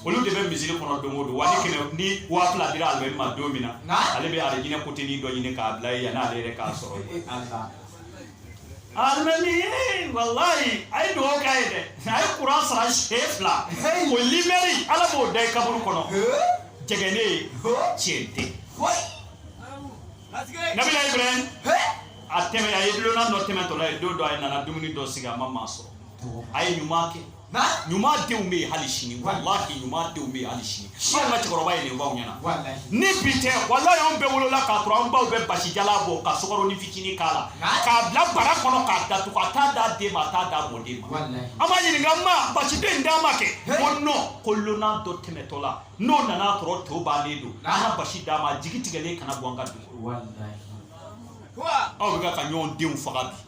olu de bɛ misiri kɔnɔ don o don wa ni kɛmɛ ni waa fila dira alimami ma don min na ale bɛ alijinɛ kotenin dɔ ɲini k'a bila yen yanni ale yɛrɛ ka sɔrɔ yen alimami walayi a ye dugawu k'a ye dɛ a ye kuranɛ sara siɲɛ fila o limɛri ala b'o da i kaburu kɔnɔ jɛgɛne ye tiɲɛ tɛ nabila ibrahim a tɛmɛ a ye dulonan dɔ tɛmɛtɔla ye don dɔ a ye nana dumuni dɔ sigi a ma maa sɔrɔ a ye ɲuman kɛ ɲuman denw bɛ yen hali sini walahi ɲuman denw bɛ yen hali sini an ka cɛkɔrɔba ye nin fɔ anw ɲɛna ni bi tɛ walahi anw bɛɛ wolola k'a sɔrɔ an baw bɛ basi jalan bɔ ka sukaronin fitinin k'a la k'a bila bara kɔnɔ k'a datugu a t'a d'a den ma a t'a d'a mɔden ma an b'a ɲininka ma basi de d'an ma kɛ ko non ko lonan dɔ tɛmɛtɔ la n'o nana sɔrɔ to bannen don an ka basi d'a ma jigi tigɛlen kana bɔ an ka dugu aw bɛ ka ka ɲɔgɔn denw faga bi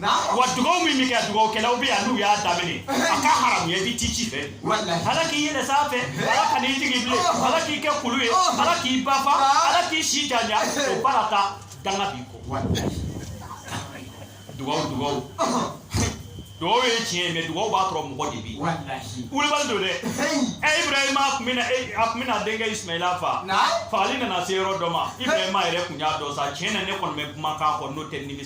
wa dugaw min bɛ kɛ dugawukɛlaw bɛ yan n'u y'a daminɛ a ka haramuya i bɛ ti ci fɛ ala k'i yɛlɛ sanfɛ ala kana i jigin bilen ala k'i kɛ kulu ye ala k'i ba fa ala k'i si janya o baara ta danga b'i kɔ dugaw dugaw dugaw ye tiɲɛ ye mɛ dugaw b'a sɔrɔ mɔgɔ de bɛ yen wulibali don dɛ ɛ ibrahima tun bɛna a tun bɛna denkɛ ismaila fa fagali nana se yɔrɔ dɔ ma ibrahima yɛrɛ tun y'a dɔn sa tiɲɛ na ne kɔni bɛ kumakan kɔ n'o tɛ nimisa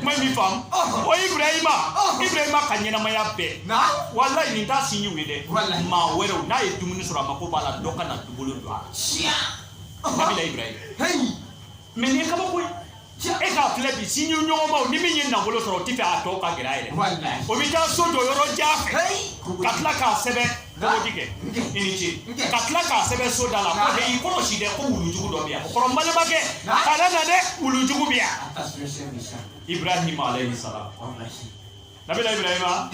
kuma in b'i faamu o ibrahima ibrahima ka ɲɛnamaya bɛɛ walayi nin t'a sinji ye dɛ maa wɛrɛw n'a ye dumuni sɔrɔ a mako b'a la dɔ ka na u bolo don a la nabila ibrahima mɛ nin ye kabako ye e k'a filɛ bi sinjiɲɔgɔnmaw ni min ye nafolo sɔrɔ o t'a fɛ a tɔ ka gɛrɛ a yɛrɛ o bɛ taa so jɔ yɔrɔ jan fɛ ka tila k'a sɛbɛn Bɔgɔji kɛ i ni ce ka tila k'a sɛbɛn so da la ko dɛ i kɔlɔsi dɛ ko wulujugu dɔ bɛ yan o kɔrɔ n balimakɛ kana na dɛ wulujugu bɛ yan Ibrahima alayhi salam nabila Ibrahima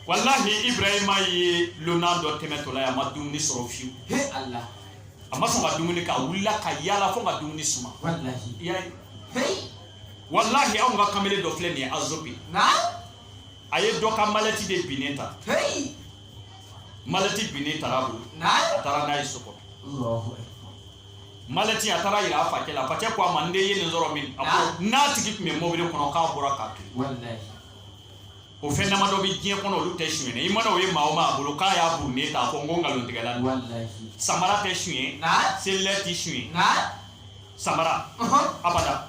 walahi Ibrahima ye lonan dɔ tɛmɛtɔ la yan a ma dumuni sɔrɔ fiyewu a ma sɔn ka dumuni kɛ a wulila ka yaala fo ka dumuni suma walahi anw ka kamalen dɔ filɛ nin ye azobi a ye dɔ ka malɛti de binnen ta malɛti binnen taara a bolo a taara n'a ye so kɔnɔ malɛti a taara yira a facɛ la facɛ ko a ma n den ye nin sɔrɔ min a ko n'a tigi tun bɛ mobili kɔnɔ k'a bɔra k'a to o fɛn dama dɔ bɛ diɲɛ kɔnɔ olu tɛ suɲɛ i mana o ye maa o maa bolo k'a y'a burunnen ta a fɔ n ko nkalontigɛla don samara tɛ suɲɛ selilɛ tɛ suɲɛ samara abada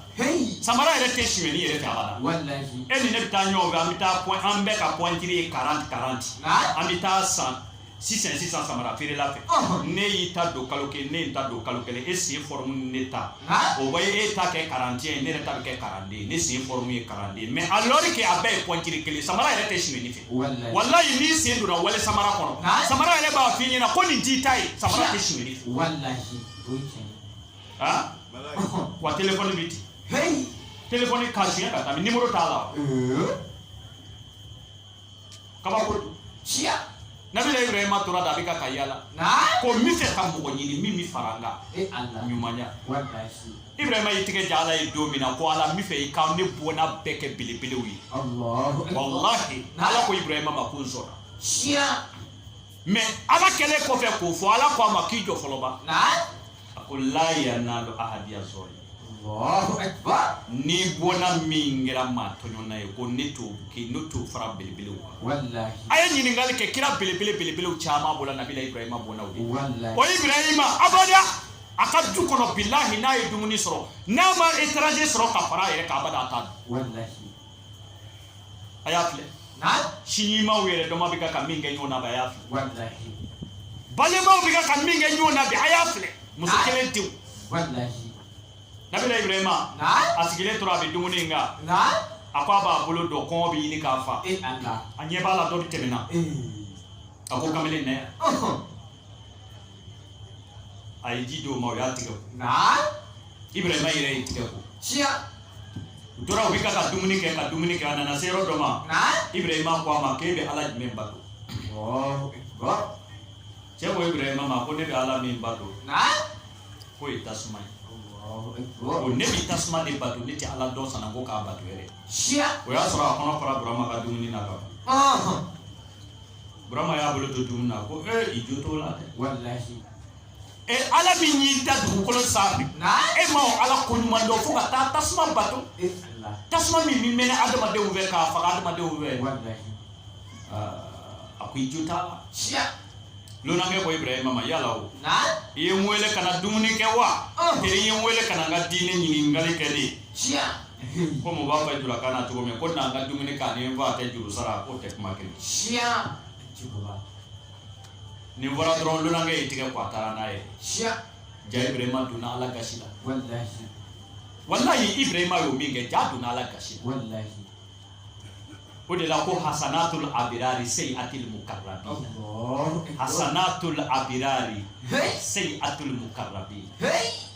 samara yɛrɛ tɛ suɲɛni yɛrɛ fɛ abada e ni ne bɛ taa ɲɔgɔn fɛ an bɛ taa pɔn an bɛɛ ka pɔntiri ye karanti karanti an bɛ taa san sisan sisan samara feerela fɛ n'e y'i ta don kalo kelen ne ye n ta don kalo kelen e sen fɔrɔmu ni ne ta o bɛ e ta kɛ karanti ye ne yɛrɛ ta bɛ kɛ karanden ne sen fɔrɔmu ye karanden mais alors que a bɛɛ ye pɔntiri kelen samara yɛrɛ tɛ suɲɛni fɛ walayi n'i sen donna wali samara kɔnɔ samara yɛrɛ b'a f'i ɲɛna ko nin t'i ta ye samara tɛ suɲɛni fɛ. ah wa téléphone bɛ ten téléphone k'a suɲɛ ka taa mɛ nimoro t'a la kabako don siya nabila ibrahima tora da a bɛ ka ka yaala ko n bɛ fɛ ka mɔgɔ ɲini min bɛ fara n kan ɲumanya ibrahima y'i tigɛ ja ala ye don min na ko ala n bɛ fɛ i ka ne bɔnna bɛɛ kɛ belebelew ye walahi ala ko ibrahima ma ko n sɔnna mɛ ala kɛlen kɔfɛ k'o fɔ ala ko a ma k'i jɔ fɔlɔba a ko la yanalu ahadiya zɔlimin bɔnna min kɛra maa tɔɲɔnna ye ko ne t'o kɛ ne t'o fara belebelew kan a ye ɲininkali kɛ kira belebele belebelew caman bɔra nabila ibrahima bɔnnaw de o ibrahima abada a ka du kɔnɔ bilahi n'a ye dumuni sɔrɔ n'a ma étranger sɔrɔ ka fara a yɛrɛ kan abada a t'a dun a y'a filɛ sinjimaw yɛrɛ dama bɛ ka ka min kɛ ɲɔgɔn na bi a y'a filɛ balimaw bɛ ka ka min kɛ ɲɔgɔn na bi a y'a filɛ muso kelen denw nabila ibrahima a sigilen tora a bɛ dumuni in kan a ko a b'a bolo don kɔngɔ bɛ ɲini k'a fa a ɲɛ b'a la dɔ bɛ tɛmɛna a ko kamalen na a ye ji di o ma o y'a tigɛ ko naa ibrahima yɛrɛ y'i tigɛ ko siya u tora u bɛ ka ka dumuni kɛ ka dumuni kɛ a nana se yɔrɔ dɔ ma naa ibrahima ko a ma k'e bɛ ala jumɛn bato ɔɔ bɔ cɛ ko ibrahima ma ko ne bɛ ala min bato naa k'o ye tasuma ye ɔɔ bɔ ko ne bɛ tasuma de bato ne tɛ ala dɔn sanna ko k'a bato yɛrɛ siya o y'a sɔrɔ a kɔnɔ fara burama ka dumuni na ka ban ɔhɔn burama y'a bolo to dumuni na ko ee i jo t'o la dɛ walahi e ala min y'i da dugukolo sanfɛ e ma o ala ko ɲuman dɔn fo ka taa tasuma bato e tasuma min bɛ mɛnɛ adamadenw fɛ k'a faga adamadenw fɛ a ko i jo t'a la siya lonankɛ ko ibrahima ma yala o i ye n wele ka na dumuni kɛ wa tari i ye n wele ka na n ka diinɛ ɲininkali kɛ de ko mɔgɔ b'a fɔ julakan na cogo min ko n'an ka dumuni k'a ni n fa ta juru sara k'o tɛ kuma kelen siya jurula nin fɔra dɔrɔn lonankɛ y'i tigɛ ko a taara n'a ye siya ja ibirahima donna ala gasi la walahi walahi ibirahima y'o min kɛ ja donna ala gasi la walahi o de la ko hasanatul abirari sayyiatul mukarrabin Allahu akbar. hasanatul abirari Hey! sayyiatul mukarrabin hey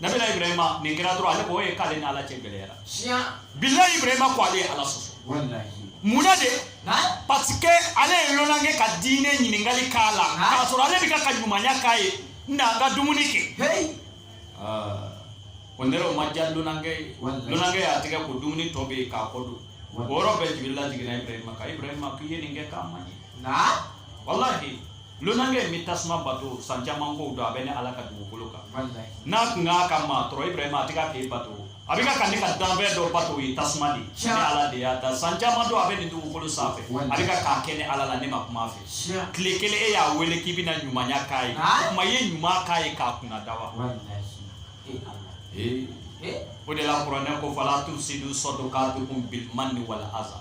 nabila ibrahima nin kɛra dɔrɔn ale ko ye k'ale ni ala cɛ gɛlɛyara bilahi ibrahima ko ale ye ala sɔsɔ munna de parce que ale ye lonankɛ ka diinɛ ɲininkali k'a la k'a sɔrɔ ale bɛ ka ka ɲumanya k'a ye n na n ka dumuni kɛ o yɛrɛ o ma diya lonankɛ ye lonankɛ y'a tigɛ ko dumuni tɔ bɛ yen k'a kɔ don o yɔrɔ bɛɛ jibirila jiginna ibrahima kan ibrahima k'i ye nin kɛ k'a ma ɲɛ walahi Lonankɛ in bɛ tasuma bato san caman ko don a bɛ ne ala ka dugukolo kan n'a tun y'a ka maa tɔɔrɔ ibrahima a tɛ ka k'e bato a bɛ ka ne ka danfɛn dɔ bato o ye tasuma de ne ala de y'a da san caman don a bɛ nin dugukolo sanfɛ a bɛ ka k'a kɛ ne ala la ne ma kuma a fɛ tile kelen e y'a wele k'i bɛna ɲumanya k'a ye o tuma i ye ɲuman k'a ye k'a kunna da wa o de la kuranɛ ko fala tufsidu sadakatukum bil manni wal aza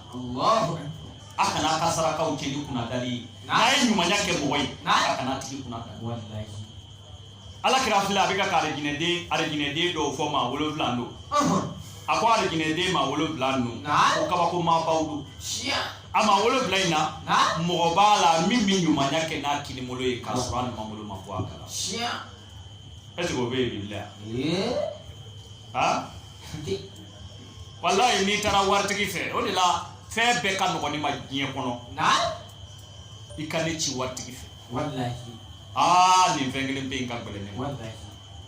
a kana a ka sarakaw cɛn ni kunnadali ye n'a ye ɲumanya kɛ mɔgɔ ye a kana a tigi kunnadali walilayi ala kira filɛ a bɛ ka ka arijinɛden arijinɛden dɔw fɔ maa wolonwula don a ko arijinɛden maa wolonwula don ko kabako maabaw don a maa wolonwula in na mɔgɔ b'a la min bɛ ɲumanya kɛ n'a kinibolo ye k'a sɔrɔ a numanbolo ma bɔ a kala est-ce que o bɛ yen bi la aa walayi n'i taara waritigi fɛ o de la fɛn bɛɛ ka nɔgɔn ne ma diɲɛ kɔnɔ i ka ne ci waritigi fɛ aa nin fɛn kelen bɛ yen ka gɛlɛn ne ma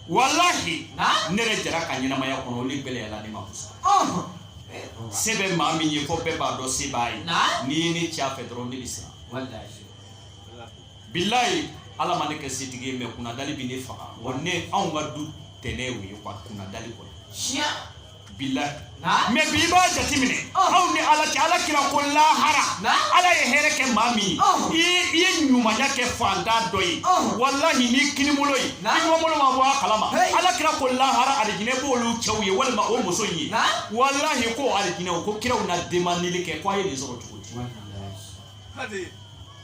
walahi ne yɛrɛ jara ka ɲɛnamaya kɔnɔ olu gɛlɛyala ne ma kosɛbɛ se bɛ maa min ye fo bɛɛ b'a dɔn se b'a ye n'i ye ne ci a fɛ dɔrɔn ne bɛ siran bilayi ala ma ne kɛ setigi ye mɛ kunnadali bɛ ne faga wa ne anw ka du tɛnɛ o ye kuwa kunnadali kɔnɔ siya bilayi mɛ bi i b'a jateminɛ anw ni ala cɛ ala kira ko lahara ala ye hɛrɛ kɛ maa min ye i ye ɲumanya kɛ fantan dɔ ye walahi n'i kinibolo ye i numanbolo ma bɔ a kalama ala kira ko lahara alijinɛ b'olu cɛw ye walima o muso in ye walahi ko alijinɛ o ko kiraw na demandeli kɛ ko a ye nin sɔrɔ cogo di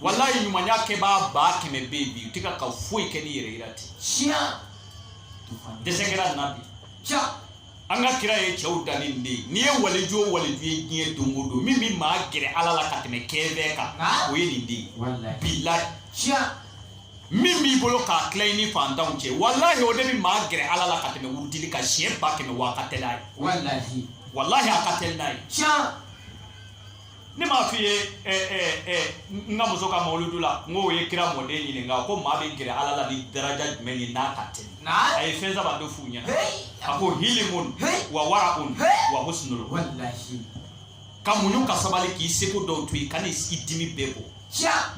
walayi ɲumanya kɛbaa ba kɛmɛ bɛ yen bi u tɛ ka ka foyi kɛ ni yɛrɛ yira tɛ tiɲɛ dɛsɛ kɛra nana bi tiɲɛ an ka kira ye cɛw danni nin de ye n'i ye waliju o waliju ye diɲɛ don o don min bɛ maa gɛrɛ ala la ka tɛmɛ ko bɛɛ kan o ye nin de ye bilayi tiɲɛ min b'i bolo k'a tila i ni fantanw cɛ walahi o de bɛ maa gɛrɛ ala la ka tɛmɛ wurudili kan siɲɛ ba kɛmɛ wa a ka teli n'a ye walahi a ka teli n'a ye tiɲɛ ne m'a f'i ye n ka muso ka mawuludu la n k'o ye kira mɔden ɲininka ko maa bɛ gɛrɛ ala la ni daraja jumɛn ye n'a ka teli a ye fɛn saba dɔ f'u ɲɛna a ko hilimun wa wara'un wa husnul ka muɲu ka sabali k'i seko dɔw to yen kan'i dimi bɛɛ bɔ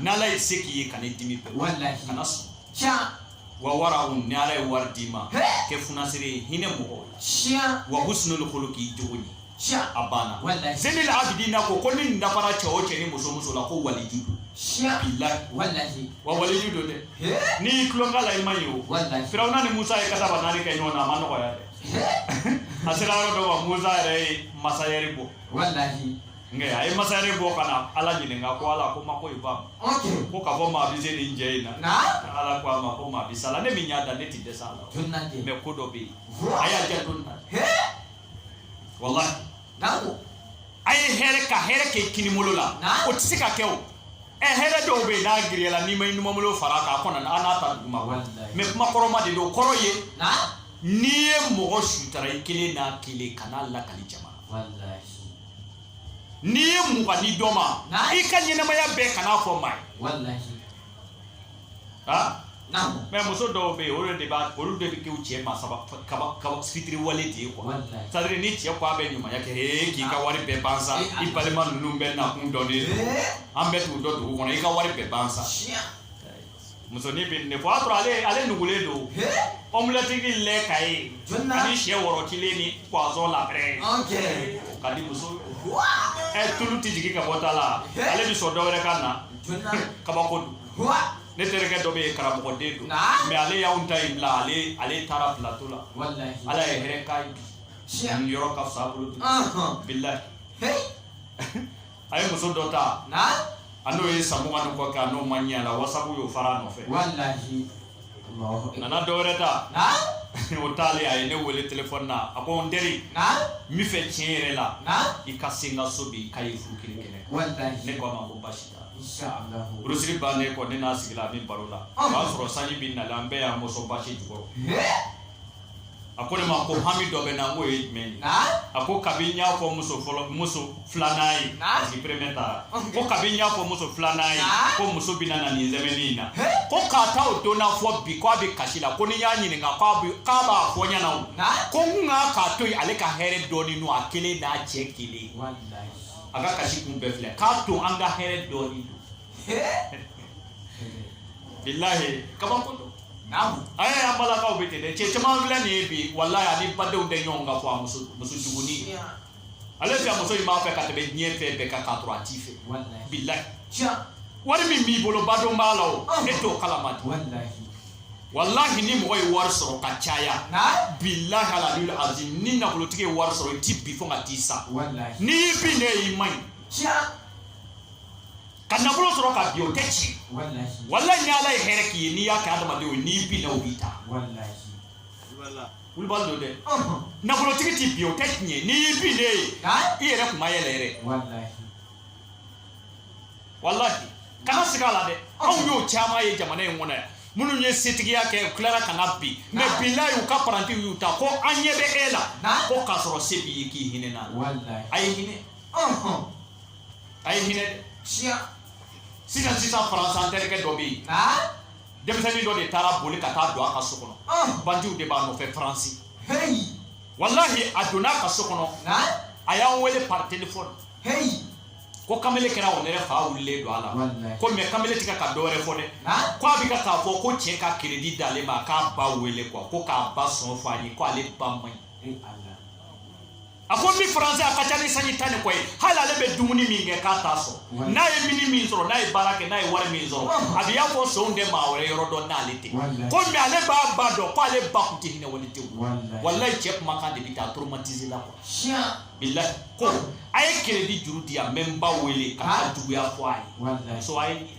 n'ala ye se k'i ye kan'i dimi bɛɛ bɔ kana sɔn tiɲɛ wa wara'un ni ala ye wari d'i ma kɛ funasiri ye hinɛ mɔgɔw la tiɲɛ wa husnul khuluqi jogo ɲɛ tiɲɛ a banna walahi zenil abidina ko ko ni nin dafara cɛ o cɛ ni muso o muso la ko waliju don tiɲɛ bilahi walahi wa waliju don dɛ he n'i y'i tulon k'a la i man ɲi o walahi firawuna ni musa ye san bi naani kɛ ɲɔgɔn na a ma nɔgɔya dɛ he a sera yɔrɔ dɔ ma musa yɛrɛ ye masayɛri bɔ walahi nka a ye masayɛri bɔ ka na ala ɲininka ko ala ko ma ko i ba ko k'a fɔ maa bɛ se nin cɛ in na ala ko a ma ko maa bɛ s'a la ne min y'a da ne tɛ dɛsɛ a la mɛ ko dɔ bɛ yen a y'a jɛ don na walahi a ye hɛrɛ ka hɛrɛ kɛ kinibolo la o tɛ se ka kɛ o ɛ hɛrɛ dɔw bɛ yen n'a giriyala n'i ma i numanbolo fara k'a kɔnɔ a n'a ta duguma mɛ kuma kɔrɔma de don kɔrɔ ye n'i ye mɔgɔ sutara i kelen n'a kelen kan'a lakali jama n'i ye mugan di dɔ ma i ka ɲɛnamaya bɛɛ kan'a fɔ maa ye mɛ muso dɔw bɛ yen olu de b'a olu de bɛ kɛ u cɛ ma saba kaba kaba fitiriwale de ye kuwa sadiri ni cɛ ko a bɛ ɲumanya kɛ ee k'i ka wari bɛɛ ban sa i balima ninnu bɛɛ nakun dɔnnen don an bɛɛ t'u dɔn dugu kɔnɔ i ka wari bɛɛ ban sa musonin bɛ nin fɔ o y'a sɔrɔ ale ale nugulen don omelette lait caillé ani syɛ rɔtilen ni poisson la braise ka di muso ɛ tulu tɛ jigin ka bɔ ta la ale bɛ sɔn dɔ wɛrɛ ka na kabako don ne terikɛ dɔ bɛ yen karamɔgɔden don mɛ ale y'anw ta in bila ale ale taara pilato la ala ye hɛrɛ k'a ye bi yɔrɔ ka fisa a bolo bi bilahi a ye muso dɔ ta a n'o ye san mugan ni kɔ kɛ a n'o ma ɲɛ a la wasabu y'o fara a nɔfɛ a nana dɔ wɛrɛ ta o taalen a ye ne wele telefɔni na a ko n teri n bɛ fɛ tiɲɛ yɛrɛ la i ka se n ka so bi k'a ye furu kelen kɛnɛ ne ko a ma ko baasi t'a la furusiri bannen kɔ ne n'a sigila an bɛ baro la o y'a sɔrɔ sanji bɛ nalen an bɛɛ y'an mɔsɔn basi jukɔrɔ a ko ne ma ko hami dɔ bɛ n na n k'o ye jumɛn ye a ko kabi n y'a fɔ muso fɔlɔ muso filanan ye parce que premier taara ko kabi n y'a fɔ muso filanan ye ko muso bɛ na na nin sɛmɛni in na ko k'a ta o don na fo bi k'a bɛ kasi la ko ni n y'a ɲininka k'a bɛ k'a b'a fɔ n ɲɛna o ko n ka k'a to yen ale ka hɛrɛ dɔɔni don a kelen n'a cɛ kelen a ka kasi kun bɛɛ filɛ k'a to an ka hɛrɛ dɔɔni don bilahi kabako don Ayi an balakaw bɛ ten dɛ cɛ caman filɛ nin ye bi walayi a ni badenw tɛ ɲɔgɔn kan fɔ muso juguni ale fɛ muso in b'a fɛ ka tɛmɛ diɲɛ fɛn bɛɛ kan k'a sɔrɔ a t'i fɛ bilayi wari min b'i bolo badon b'a la e t'o kala ma dɛ walayi ni mɔgɔ ye wari sɔrɔ ka caya bilayi alalil azim ni nafolotigi ye wari sɔrɔ i tɛ bin fo ka t'i sa n'i binnen y'i man ɲi ka nafolo sɔrɔ ka bin o tɛ ci walayi ni ala ye hɛrɛ k'i ye n'i y'a kɛ adamadenw ye n'i binna u b'i ta wulibali don dɛ nafolotigi t'i bin o tɛ tiɲɛ n'i y'i bin ne ye i yɛrɛ kun ma yɛlɛ yɛrɛ walahi kana siga a la dɛ anw y'o caman ye jamana in kɔnɔ yan minnu ye setigiya kɛ u tilara ka na bin mɛ bilayi u ka parantiw y'u ta ko an ɲɛ bɛ e la ko k'a sɔrɔ se b'i ye k'i hinɛna a ye hinɛ a ye hinɛ siya sisan sisan faransi an terikɛ dɔ bɛ yen denmisɛnnin dɔ de taara boli ka taa don a ka so kɔnɔ ah. bandiw de b'a nɔfɛ faransi walahi a donna a ka so kɔnɔ a y'an wele par telefɔni ko kamele kɛra o nɛrɛ fa wulilen don a la ko mɛ kamele tɛ ka ka dɔ wɛrɛ fɔ dɛ ko a bɛ ka k'a fɔ ko cɛ ka keredi di ale ma k'a ba wele kuwa ko k'a ba sɔn fɔ a ye ko ale ba man ɲi a ko n bɛ faransi a ka ca ni sanji tan ni kɔ ye hali ale bɛ dumuni min kɛ k'a t'a sɔrɔ n'a ye minni min sɔrɔ n'a ye baara kɛ n'a ye wari min sɔrɔ a bɛ i n'a fɔ sonw tɛ maa wɛrɛ yɔrɔ dɔn n'ale tɛ ko mɛ ale b'a ba dɔn ko ale ba tun tɛ hinɛ wale tɛ walayi cɛ kumakan de bɛ taa traumatiser la quoi bilayi ko a ye keredi juru di yan n bɛ n ba wele k'a juguya fɔ a ye muso a ye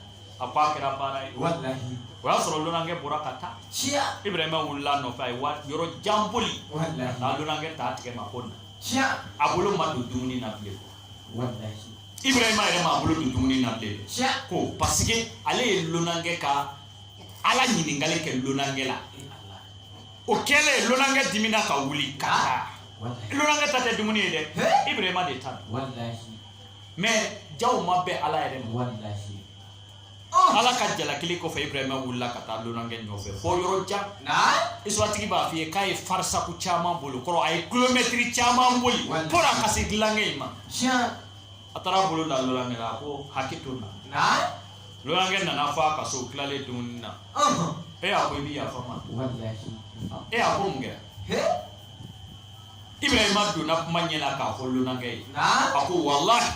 a ko a kɛra baara ye walahi o y'a sɔrɔ lonankɛ bɔra ka taa tiɲɛ ibrahima wulila a nɔfɛ a ye wa yɔrɔ jan boli ka walahi taa lonankɛ t'a tigɛ ma ko na tiɲɛ a bolo ma don dumuni na bilen walahi ibrahima yɛrɛ ma a bolo don dumuni na bilen tiɲɛ ko pasike ale ye lonankɛ ka ala ɲininkali kɛ lonankɛ la e ala o kɛlen lonankɛ dimina ka wuli ka taa walahi lonankɛ ta tɛ dumuni ye dɛ He? ibrahima de ta don walahi mɛ jaa o ma bɛn ala yɛrɛ ma walahi ah! ala ka jalakili kɔfɛ ibrahima wulila ka taa lonankɛ nɔfɛ fɔ yɔrɔ jan isituwaritigi b'a f'i ye k'a ye farisaku caman boli o kɔrɔ a ye kilomɛtiri caman boli fo na ka se lonankɛ in ma a taara bolo da lonankɛ la a ko hakɛ to na lonankɛ nana fɔ a ka so tilalen dumuni na e a ko i bi yafa n ma e a ko mun kɛra ibrahima donna kuma ɲɛ la k'a fɔ lunankɛ ye a ko walahi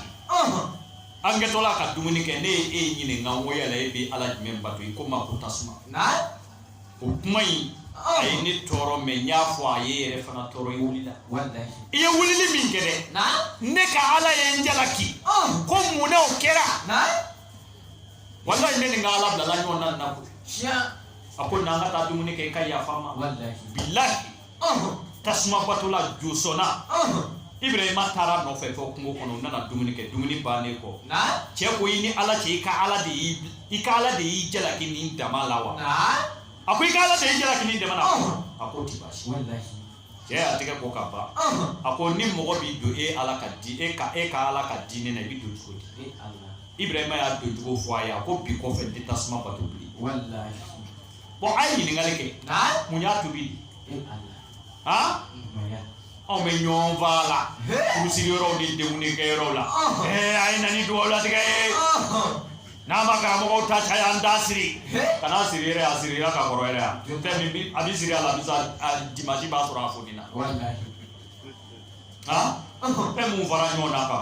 an kɛtɔla ka dumuni kɛ ne ye e ɲininka ko yala e bɛ ala jumɛn bato i ko n ma ko tasuma o kuma in a ye ne tɔɔrɔ mɛ n y'a fɔ a ye i yɛrɛ fana tɔɔrɔ i wulila i ye wulili min kɛ dɛ ne ka ala ye n jalaki ko mun na o kɛra walahi ne ni n ka ala bilala ɲɔgɔn na nin na ko a ko na an ka taa dumuni kɛ i ka yafa n ma bilahi tasumabatola josɔnna ibirahima taara a nɔfɛ fɔ kungo kɔnɔ u nana dumuni kɛ dumuni bannen kɔ cɛ ko i ni ala cɛ i ka ala de y'i i ka ala de y'i jalaki nin dama la wa a ko i ka ala de y'i jalaki nin dama la a ko ti baasi cɛ y'a tɛgɛ ko ka ban a ko ni mɔgɔ bi don e ala ka di e ka e ka ala ka diinɛ na i bɛ don cogo di ibirahima y'a don cogo fɔ a ye a ko bi kɔfɛ n tɛ tasuma bato bilen Bon a ye ɲininkali kɛ mun y'a tubi han anw bɛ ɲɔgɔn fa la furusiri yɔrɔw ni denkundi kɛ yɔrɔw la ɛɛ a ye na ni dugawu latigɛ ye n'a ma karamɔgɔw ta caya an t'a siri kan'a siri yɛrɛ a sirira ka kɔrɔ yɛrɛ a fɛn min a bɛ siri alamisa dimansi b'a sɔrɔ a fonina han fɛn mun fara ɲɔgɔn na ka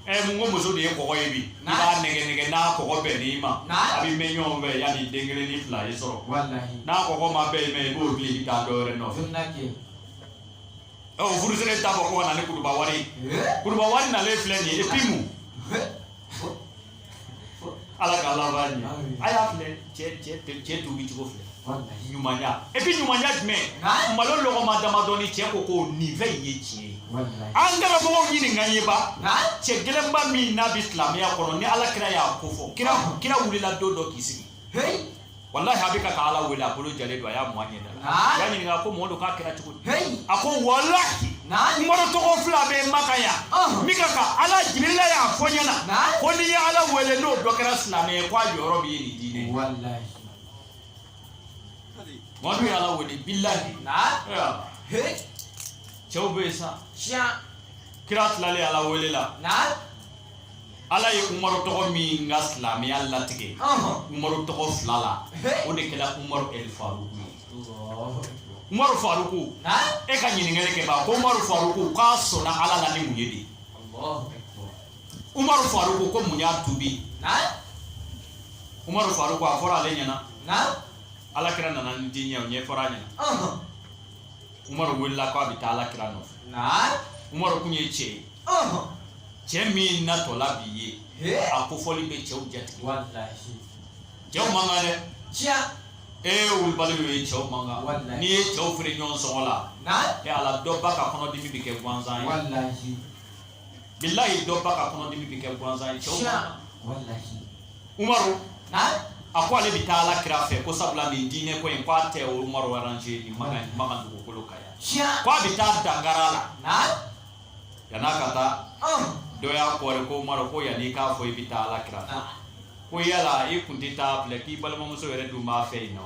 ɛ mun ko muso de ye kɔgɔ ye bi i b'a nɛnɛ n'a kɔgɔ bɛnn'i ma aw bɛ mɛɛn ɲɔgɔn fɛ yanni den kelen ni fila ye sɔrɔ n'a kɔgɔ ma bɛn i ma i b'o bila i ka taa dɔ wɛrɛ nɔfɛ ɔ furusiri t'a fɔ ko ka na ni kutuba wari ye kutuba wari nalen filɛ nin ye epi mun Ala k'an laban ɲɛ a y'a filɛ cɛ tubi cogo filɛ ɲumanya epi ɲumanya jumɛn malo lɔgɔma damadɔnin cɛ ko ko nin fɛn in ye tiɲɛ ye an ka karamɔgɔw ɲininka ye ba cɛ gɛlɛnba min n'a bɛ silamɛya kɔnɔ ni ala kira y'a kofɔ kira kira wulila don dɔ k'i sigi hey wallahi a bɛ ka ala wele a bolo jalen don a y'a mu a ɲɛda la a y'a ɲininka a ko mɔdu k'a kɛra cogo di a ko wallahi umaru tɔgɔ fila bɛ makan yan min ka ka ala jibirila y'a fɔ n ɲɛna ko n'i ye ala wele n'o dɔ kɛra silamɛ ye k'a jɔyɔrɔ bi ye nin diinɛ mɔdu ye ala wele bilahi cɛw bɛ yen sa kira tilalen ala wele la ala ye umaru tɔgɔ min ka silamɛya latigɛ umaru tɔgɔ fila la o de kɛra umaru el faruku ye umaru faruku e ka ɲininkali kɛ ba ko umaru faruku k'a sɔnna ala la ni mun ye de umaru faruku ko mun y'a tubi umaru faruku a fɔra ale ɲɛna ala kira nana ni diinɛ ye o ɲɛfɔra a ɲɛna umaru wulila k'a bɛ taa ala kira nɔfɛ naam umaru kun ye cɛ ye ɔhɔn cɛ min natɔla bi ye he a kofɔli bɛ cɛw jatigɛ walahi cɛw man kan dɛ tiɲɛ wulibali y'o ye cɛw man kan Walahi. n'i ye cɛw feere ɲɔgɔn sɔngɔ la naam e ala dɔ ba ka kɔnɔdimi bɛ kɛ gansan ye walahi bilayi dɔ ba ka kɔnɔdimi bi kɛ gansan ye cɛw man kan umaru a ko ale bi taa ala kira fɛ ko sabula nin diinɛ ko in ko a tɛ umaru aranje nin makan nin makan dugukolo kan yan ko a bi taa dankari a la yan'a ka taa dɔ y'a kɔɔri ko umaru ko yan'i k'a fɔ i bi taa ala kira fɛ ko yala i kun tɛ taa filɛ k'i balimamuso yɛrɛ dun b'a fɛ yen nɔ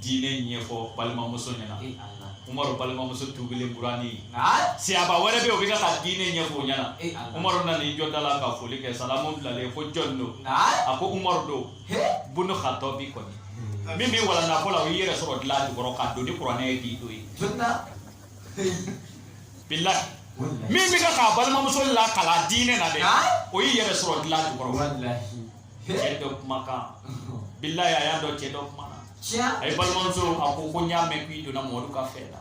diinɛ ɲɛfɔ balimamuso ɲɛna e ala umaru balimamuso tuubilen burani ye na sahaba wɛrɛ bɛ yen o bɛ ka ka diinɛ ɲɛfɔ u ɲɛna e ala umaru nana i jɔ da la ka foli kɛ salamu bilalen ko jɔn don na a ko umaru don he bunu xatɔbi kɔni min bi walanda ko la o y'i yɛrɛ sɔrɔ dilan jukɔrɔ ka don ni kuranɛ ye k'i don yen jɔnna bilahi wallahi min bɛ ka k'a balimamuso lakalan diinɛ na dɛ Nka? o y'i yɛrɛ sɔrɔ dilan jukɔrɔ wallahi cɛ dɔ kumakan bilayi a y'a dɔn cɛ dɔ kumana a ye balimamuso a ko ko n y'a mɛn k'i donna mɔdu ka fɛn na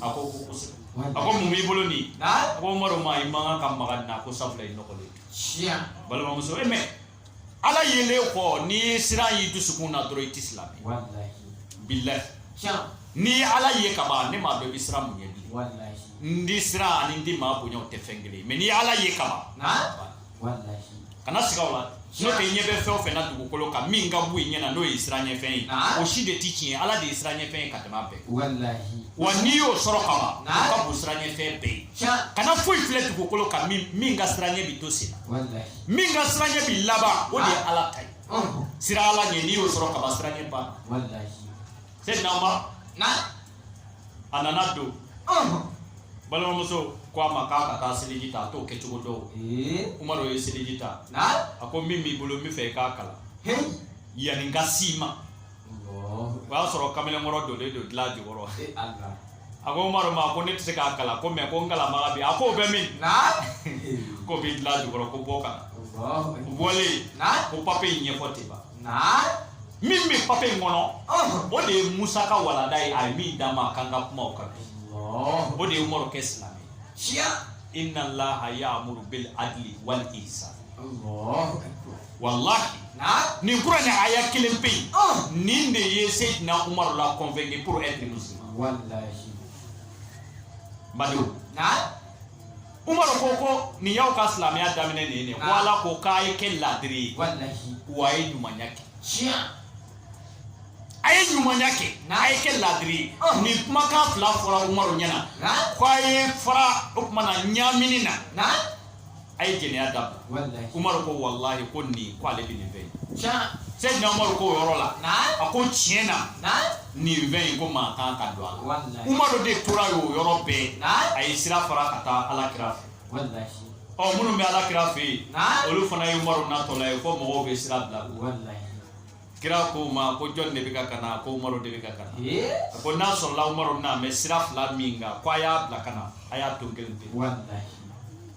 a ko ko kosɛbɛ a ko mun b'i bolo nin a ko umaru ma i man kan ka maga nin na ko sabula i nɔgɔlen balimamuso e mɛ ala yelen kɔ n'i ye siran y'i dusukun na dɔrɔn i tɛ silamɛ bilayi n'i ye ala ye ka ban ne m'a dɔn i bɛ siran mun ɲɛ bilen n di siran ani n di maa bonya o tɛ fɛn kelen ye mɛ n'i ye ala ye ka ban kana siga o la n'o tɛ i ɲɛ bɛ fɛn o fɛn na dugukolo kan min ka bon i ɲɛ na n'o ye siran ɲɛfɛn ye ah. o si de ti tiɲɛ ala de ye siran ɲɛfɛn ye ka tɛmɛ a bɛɛ wa n'i y'o sɔrɔ ka ban ah. o ka bon siran ɲɛfɛn bɛɛ ye kana foyi filɛ dugukolo kan min min ka siran ɲɛ bi to sen na min ka siran ɲɛ bi laban o de ye ah. ala ta ye oh. siran ala ɲɛ n'i y'o sɔrɔ ka ban siran ɲɛ ban seyidina umaru a nana don balimamuso ko a ma k'a ka taa seliji ta a t'o kɛcogo dɔn umaru ye seliji ta a ko min b'i bolo n bɛ fɛ i k'a kalan yanni n ka s'i ma o y'a sɔrɔ kamalenkɔrɔ donlen don dilan jukɔrɔ a ko umaru ma ko ne tɛ se k'a kalan ko mɛ ko n kalanbaga bɛ yen a k'o bɛ min k'o bɛ dilan jukɔrɔ ko bɔ ka na o bɔlen ko papiye in ɲɛfɔ ten ban min bɛ papiye in kɔnɔ o de ye musa ka walanda ye a ye min d'a ma a kan ka kuma o kan bi o de ye umaru kɛ silamɛ inna allaha ya'muru bil adli wal ihsan wallahi nin kuranɛ aya kelen pe nin de ye seydina umaru la convaincu pour être musulman wallahi badenw umaru ko ko nin y'aw ka silamɛya daminɛ nin ye nin ye ko Ah. ala ko k'a ye kɛ laadiri ye wallahi wa a ye ɲumanya kɛ tiɲɛ a ye ɲumanya kɛ Na. a ye kɛ laadiri ye Ah. nin kumakan fila fɔra umaru ɲɛna na ko a ye fara o tuma na ɲamini na na a ye jɛnɛya dabila wallahi umaru ko walahi ko nin ko ale bɛ nin fɛ yen tiɲɛ seydina umaru ko o yɔrɔ la na a ko tiɲɛ na na nin fɛn in ko maa kan ka don a la walahi umaru de tora yen o yɔrɔ bɛɛ Naamu. a ye sira fara ka taa ala kira fɛ walahi ɔ minnu bɛ ala kira fɛ yen Naamu. olu fana ye umaru natɔla ye fo mɔgɔw bɛ siran bila u la. walahi kira ko u ma ko jɔn de bɛ kan ka na ko umaru de bɛ kan ka na ee a ko n'a sɔrɔla umaru bɛna mɛ sira fila min kan ko a y'a bila ka na a y'a don kelen pe walahi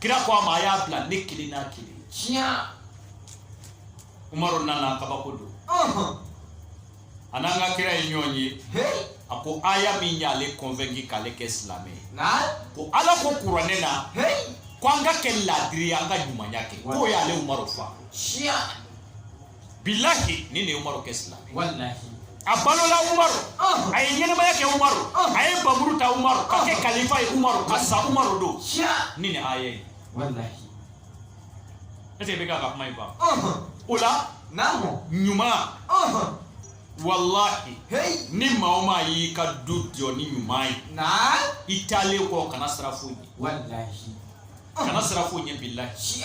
kira ko a ma a y'a bila ne kelen n'a kelen tiɲɛ umaru nana kabako don a n'an ka kira ye ɲɔgɔn ye a ko aya min y'ale convaincu k'ale kɛ silamɛ ye ko ala ko kuranɛ na ko an ka kɛ laadiri ye an ka ɲumanya kɛ k'o y'ale umaru fa bilahi nin ye umaru kɛ silamɛ walahi a balola umaru a ye ɲɛnɛmaya kɛ umaru a ye npanmuru ta umaru ka kɛ kalifa ye umaru ka sa umaru don ni nin aya ye walahi est ce que bɛ kan ka kuma in faamu o la ɲuman walahi ni maa o maa y'i ka du jɔ ni ɲuman ye i taalen kɔ kana siran foyi ɲɛ kana siran foyi ɲɛ bilahi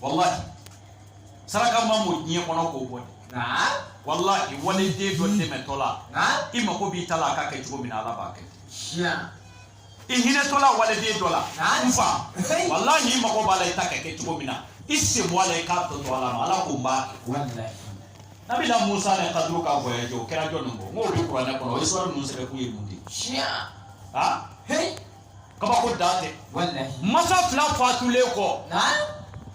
walahi saraka ma mɔ diɲɛ kɔnɔ k'o bɔ dɛ walahi waliden dɔ dɛmɛtɔ la i mako b'i ta la a ka kɛ cogo min na ala b'a kɛ i hinɛtɔla waliden dɔ la n fa walahi i mako b'a la i ta ka kɛ cogo min na i sen bɔ a la i k'a tɔ to ala ma ala k'o b'a kɛ nabila musa ni kaduru ka voyage o kɛra jɔni kɔ n k'o bɛ kuranɛ kɔnɔ histoire ninnu sɛbɛnkun ye mun de ye kabako dan tɛ masa fila fatulen kɔ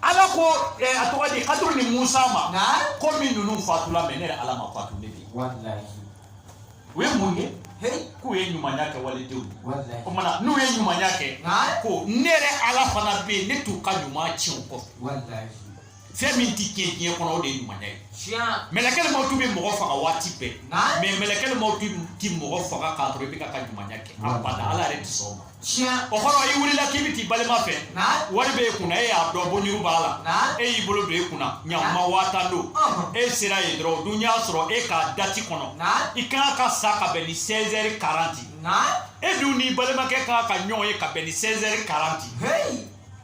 ala ko eh, a tɔgɔ di kaduru ni musa ma komi ninnu fatula mɛ ne yɛrɛ ala ma fatu dɛ bi u ye mun kɛ k'u ye ɲumanya kɛ walidenw o mana n'u ye ɲumanya kɛ ko ne yɛrɛ ala fana bɛ yen ne t'u ka ɲuman tiɲɛ u kɔ fɛn min tɛ tiɲɛ diɲɛ kɔnɔ o de ye ɲumanya ye mɛlɛkɛli mawutu bɛ mɔgɔ faga waati bɛɛ mɛ mɛlɛkɛli mawutu tɛ mɔgɔ faga k'a to i bɛ ka ka ɲumanya kɛ abada ala yɛrɛ tɛ sɔn o ma o kɔrɔ i wulila k'i bɛ t'i balima fɛ wari bɛ e kunna e y'a dɔn bonjuru b'a la e y'i bolo don e kunna ɲakuma waa tan don e sera yen dɔrɔn o dun y'a sɔrɔ e ka dati kɔnɔ i kan ka sa ka bɛn ni 16 heures 40 e dun n'i balimakɛ kan ka ɲɔgɔn ye ka bɛn ni 16 heures 40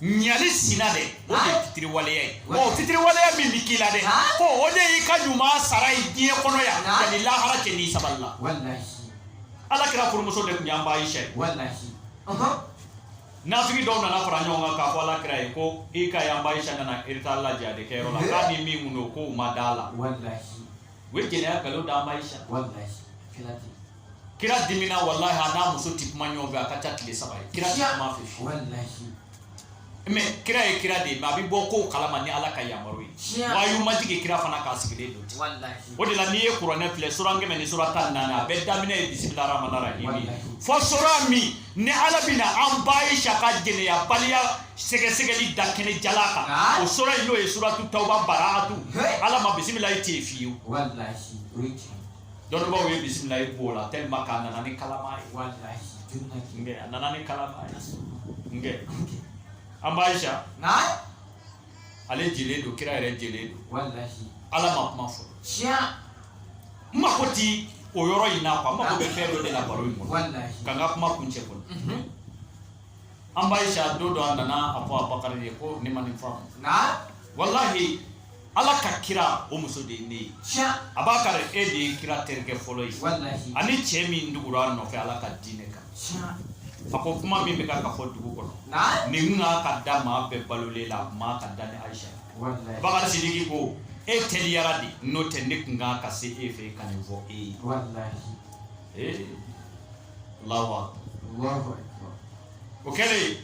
ɲali sina dɛ o de ye fitiriwaleya ye o fitiriwaleya min bɛ k'i la dɛ ko o de y'i ka ɲuman sara ye diɲɛ kɔnɔ yan yanni lahara cɛ n'i sabalila ala kira furumuso de tun y'an ba ayisa ye nafigi dɔw nana fara ɲɔgɔn kan k'a fɔ ala kira ye ko i ka y'an ba ayisa nana retard la jihadi kɛyɔrɔ la k'a ni min tun don k'o ma d'a la u ye jɛnɛya nkalon d'an ba ayisa Kira dimina walahi a n'a muso tɛ kuma ɲɔgɔn fɛ a ka ca tile saba ye kira tɛ kum'a fɛ fiyewu mais kira ye kira de ye mais a bɛ bɔ kow kalama ni Ala ka yamaru ye wayu ma jigin kira fana k'a sigilen don ten o de la n'i ye kuranɛ filɛ sura kɛmɛ ni sura tan ni naani a bɛɛ daminɛ ye bisimila rahmani rahim ye fo sura min ni Ala bɛna an ba Ayisa ka jɛnɛyabaliya sɛgɛsɛgɛli da kɛnɛ jalan kan ah. o sura in n'o ye suratu tawuba baraatu Ala ma bisimilayi ten fiyewu. dɔnnibaaw ye bisimilayi b'o la tɛlima k'a nana ni kalama ye nkɛ a nana ni kalama ye nkɛ an ba ayisa ale jelen don kira yɛrɛ jelen don ala ma kuma fɔ tiɲɛ n mako ti o yɔrɔ in na kuwa n mako bɛ fɛn dɔ de la baro in kɔnɔ ka n ka kuma kun cɛ kɔnɔ mhm. an ba ayisa don dɔ a nana a fɔ abakari ye ko ne ma nin faamu walahi ala ka kira o muso de ye ne ye abakari e de ye kira terikɛ fɔlɔ ye ani cɛ min dugura a nɔfɛ ala ka diinɛ kan a ko kuma min bɛ ka ka fɔ dugu kɔnɔ nin n'a ka da maa bɛɛ balolen la man ka da ne ayisa abakari sidiki ko e teliyara de n'o tɛ ne tun kan ka se e fɛ ka nin fɔ e ye ee lawa o kɛlen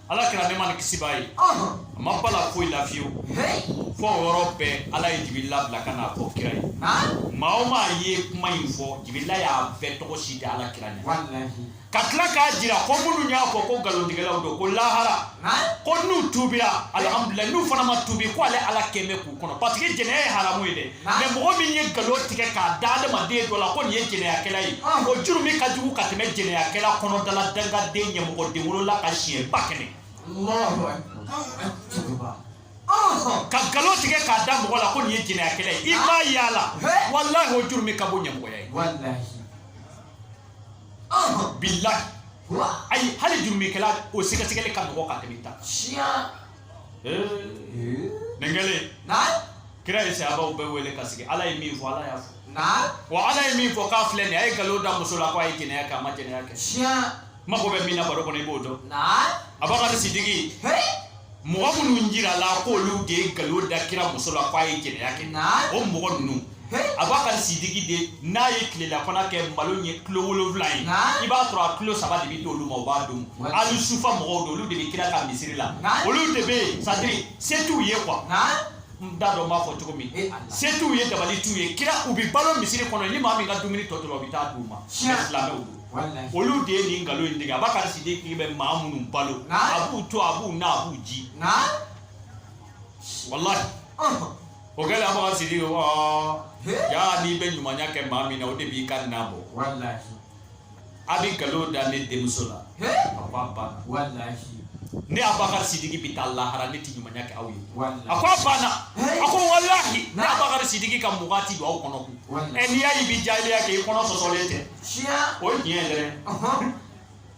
ala kira nɛma ni kisi b'a ye a ma bala foyi la fiyewu fo o yɔrɔ bɛɛ ala ye jibirila bila ka n'a fɔ kira ye maa o maa ye kuma in fɔ jibirila y'a bɛɛ tɔgɔ si da ala kira ɲɛ ka tila k'a jira ko minnu y'a fɔ ko nkalontigɛlaw don ko lahara ko n'u tubira alihamudulila n'u fana ma tubi ko ale ala kɛmɛ k'u kɔnɔ parce que jɛnɛya ye haramu ye dɛ mɛ mɔgɔ min ye nkalon tigɛ k'a da adamaden dɔ la ko nin ye jɛnɛyakɛla ye o jurumu ka jugu ka tɛmɛ jɛnɛyakɛla kɔnɔdala dangaden ɲamɔgɔden wolola kan siɲɛ ba kɛmɛ ka nkalon tigɛ k'a da mɔgɔ la ko nin ye jɛnɛyakɛla ye i m'a ye a la walahi o jurumu ka bon ɲamɔgɔya ye bilahi ayi hali jurumukɛla o sɛgɛsɛgɛli ka nɔgɔ ka tɛmɛ ta nengele kira ye sahabaw bɛɛ wele ka sigi ala ye min fɔ ala y'a fɔ wa ala ye min fɔ k'a filɛ nin a ye nkalon da muso la ko a ye jɛnɛya kɛ a ma jɛnɛya kɛ mago bɛ min na baro kɔnɔ i b'o dɔn abakar sidiki mɔgɔ minnu jirala k'olu de ye nkalon da kira muso la k'a ye jɛnɛya kɛ o mɔgɔ ninnu abakar sidiki de n'a ye tilelafana kɛ malo ye kilo wolonwula ye i b'a sɔrɔ a kilo saba de bɛ di olu ma u b'a dun ahalu sufa mɔgɔw don olu de bɛ kira ka misiri la olu de bɛ yen sadiri se t'u ye quoi n t'a dɔn n b'a fɔ cogo min eh, se t'u ye dabali t'u ye kira u bɛ balo misiri kɔnɔ ni maa min ka dumuni tɔ tora u bɛ taa d'u ma silamɛw don olu de ye nin nkalon in tigɛ abakar sidiki bɛ maa minnu balo a b'u to a b'u na a b'u ji walahi o kɛlen abakar sidiki yaa n'i bɛ ɲumanya kɛ maa min na o de b'i ka na bɔ a bɛ nkalon da ne denmuso la a ko a banna ne abakar sidiki bɛ taa lahara ne tɛ ɲumanya kɛ aw ye a ko a banna a ko walahi ne abakar sidiki ka mugan ti don aw kɔnɔ kun ɛ n'i y'a ye i bɛ jahiliya kɛ i kɔnɔ sɔsɔlen tɛ o ye tiɲɛ yɛrɛ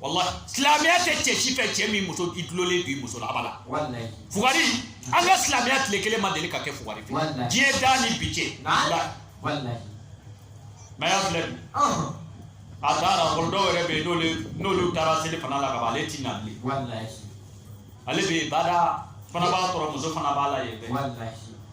walahi silamɛya tɛ cɛ si fɛ cɛ min muso i dulonnen don i muso la a b'a la fugari an ka silamɛya tile kelen ma deli ka kɛ fugari fɛ diɲɛ da ni bi cɛ mɛ y'a filɛ bi a taara kɔrɔ dɔw yɛrɛ bɛ yen n'olu n'olu taara selifana la ka ban ale ti na bilen ale bɛ bada fana b'a sɔrɔ muso fana b'a la yen bɛɛ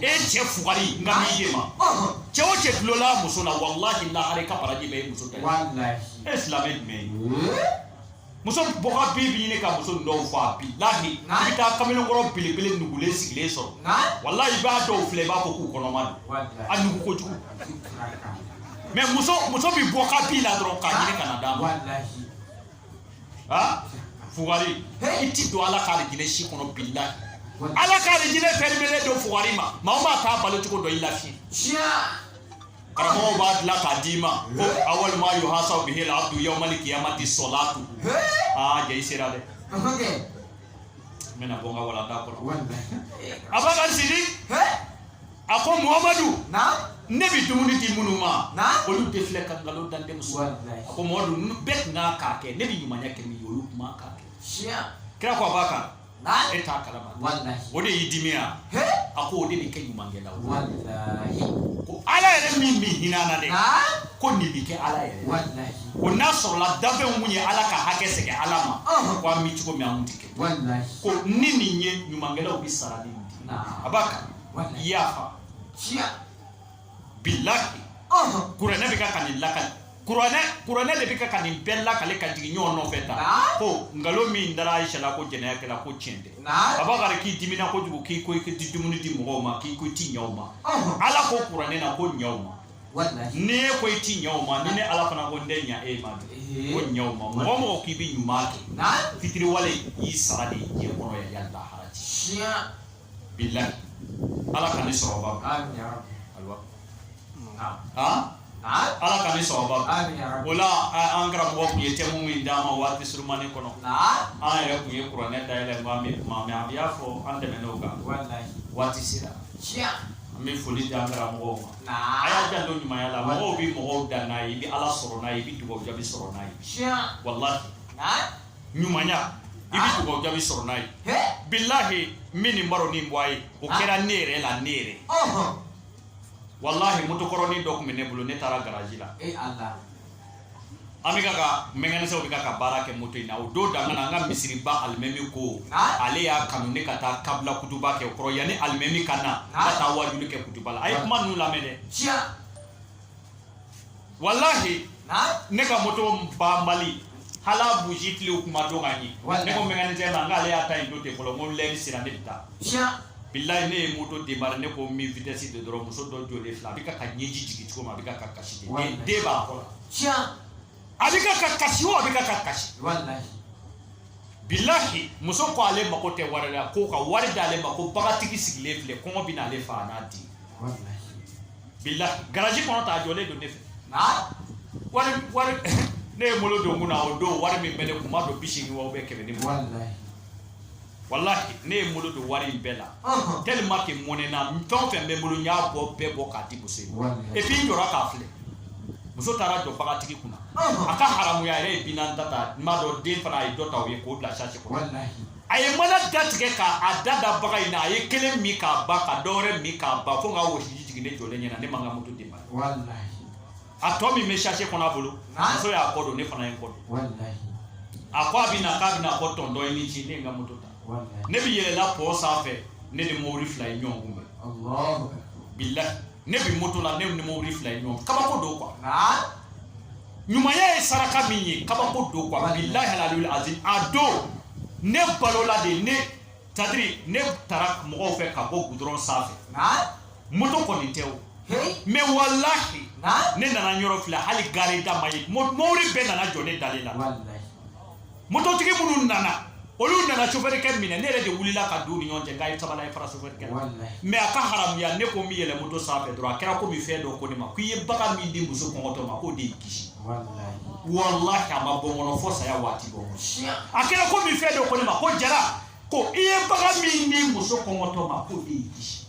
e cɛ fugari nka b'i ye ma cɛ o cɛ tulola muso la walahi lahara i ka baraji bɛɛ ye muso ta ye silamɛ jumɛn ye muso bɔgɔ bi bi ɲini ka muso dɔw fɔ a bilahi i bɛ taa kamalenkɔrɔ belebele nugulen sigilen sɔrɔ walahi i b'a dɔw filɛ i b'a fɔ k'u kɔnɔma don a nugu kojugu mɛ muso muso bɛ bɔ ka bi la dɔrɔn k'a ɲini ka na d'a ma aa fugari he i ti don ala k'alijinɛ si kɔnɔ bilahi ala k'alijinɛ pɛrimelen don fugari ma maa o maa t'a balo cogo dɔn i lafiye karamɔgɔw b'a dilan k'a d'i ma ko awalu ma yuhasabu bihil abdu yawmali kiyamati sɔlatu aa jɛ i sera dɛ n bɛna bɔ n ka walanda kɔnɔ abakari sidi a ko muhamadu ne bɛ dumuni di minnu ma olu de filɛ ka nkalon da n denmuso a ko mamadu bɛɛ tun kan k'a kɛ ne bɛ ɲumanya kɛ min ye olu tun man k'a kɛ kira ko abakari e t'a kalama o de y'i dimi yan a ko o de bɛ kɛ ɲumankɛla ko ala yɛrɛ min bɛ hinɛ na dɛ ko nin bɛ kɛ ala yɛrɛ ko n'a sɔrɔla dafɛnw tun ye ala ka hakɛ segin ala ma ko an bɛ cogo min an tun tɛ kɛ ko ni nin ye ɲumankɛlaw bɛ sara ni nin di abakari yafa bilahi kuranɛ bɛ ka ka nin lakali kuranɛ kuranɛ de bɛ ka ka nin bɛɛ lakali ka jigin ɲɔgɔn nɔfɛ tan ko nkalon min dara ayisa la ko jɛnɛya kɛra ko tiɲɛ tɛ abakari k'i dimina kojugu k'i ko i tɛ dumuni di mɔgɔw ma k'i ko i ti ɲɛ o ma ala ko kuranɛ na ko ɲɛ o ma ni e ko i ti ɲɛ o ma ni ne ala fana ko n tɛ ɲɛ e ma dɛ ko ɲɛ o ma mɔgɔ mɔgɔ k'i bɛ ɲuman kɛ fitiriwale y'i sara de ye diɲɛ kɔnɔ yɛrɛ yanni lahara cɛ. bilahi ala ka ni sɔrɔba ala ka ni sɔrɔba o la an karamɔgɔ tun ye tɛmu min d'a ma waati surumani kɔnɔ an yɛrɛ tun ye kuranɛ dayɛlɛ maa min kuma mɛ an y'a fɔ an tɛmɛn'o kan waati sera an bɛ foli di an karamɔgɔw ma a y'a janto ɲumanya la mɔgɔw bɛ mɔgɔw dan n'a ye i bɛ ala sɔrɔ n'a ye i bɛ dugawu jaabi sɔrɔ n'a ye walahi ɲumanya i bɛ dugawu jaabi sɔrɔ n'a ye bilahi n bɛ nin baro nin bɔ a ye o kɛra ne yɛrɛ la ne yɛrɛ walahi motokɔrɔnin dɔ tun bɛ ne bolo ne taara garaji la an bɛ ka ka mekanisiyɛn bɛ ka ka baara kɛ moto in na o don danga na an ka misiriba alimami ko ale y'a kanu ne ka taa kabila kutuba kɛ o kɔrɔ yanni alimami ka na ka taa waajuli kɛ kutuba la a ye kuma ninnu lamɛn dɛ walahi ne ka moto banbali hali buji tile o kuma dɔn ka ɲɛ ne ko mekanisiyɛn ma n k'ale y'a ta yen don ten fɔlɔ n ko lɛri sera ne bɛ taa bilahi ne ye moto demari ne ko n bɛ vitɛsi don dɔrɔn muso dɔ jɔlen filɛ a bɛ ka ka ɲɛji jigin cogo min a bɛ ka ka kasi de den den b'a kɔ la a bɛ ka ka kasi o a bɛ ka ka kasi bilahi muso ko ale mako tɛ wari la ko ka wari d'ale ma ko bagatigi sigilen filɛ kɔngɔ bɛn'ale faga a n'a den bilahi garaji kɔnɔ t'a jɔlen don ne fɛ wari wari ne ye bolo don kun na o don wari min bɛ ne kun n m'a dɔn bi seegin wa bɛ kɛmɛ ni mugan walahi ne ye bolo don wari in bɛɛ la tellement que mɔnɛna fɛn o fɛn bɛ n bolo n y'a bɔ bɛɛ bɔ k'a di muso in ma et puis n jɔra k'a filɛ muso taara jɔ bagatigi kunna a ka haramuya yɛrɛ ye bi naani ta ta n b'a dɔn den fana a ye dɔ ta o ye k'o bila sase kɔnɔ a ye mana da tigɛ k'a da da baga in na a ye kelen min k'a ban ka dɔwɛrɛ min k'a ban fo n ka wɔsiji jigin ne jɔlen ɲɛna ne ma n ka moto démarrer a tɔ min bɛ sase kɔnɔ a bolo muso y'a kɔ don ne fana ye n kɔ don a ko a bɛ na k'a bɛ na ko tɔntɔn i ni ce ne ye n ka moto ta ne bɛ yɛlɛ la pɔn sanfɛ ne ni mobili fila ye ɲɔgɔn kunbɛn bilahi ne bɛ moto la ne ni mobili fila ye ɲɔgɔn kabako don quoi ɲumanya ye saraka min ye kabako don quoi bilahi alalul azim a don ne balola de ne c'est-à-dire ne tara mɔgɔw fɛ ka bɔ gudɔrɔn sanfɛ moto kɔni tɛ o mais walahi ne nana yɔrɔ filɛ hali gare da ma ye mobili bɛɛ nana jɔ ne dalen la mototigi minnu nana olu nana sofɛrikɛ minɛ ne yɛrɛ de wulila ka don u ni ɲɔgɔn cɛ k'a ye sabali a ye fara sofɛrikɛ la mais a ka haramuya ne ko n bɛ yɛlɛ moto sanfɛ dɔrɔn a kɛra komi fɛn dɔ ko ne ma ko i ye baga min di muso kɔngɔtɔ ma k'o de y'i kisi walahi a ma bɔ n kɔnɔ fo saya waati bɔ a kɛra komi fɛn dɔ ko ne ma ko jara ko i ye baga min di muso kɔngɔtɔ ma k'o de y'i kisi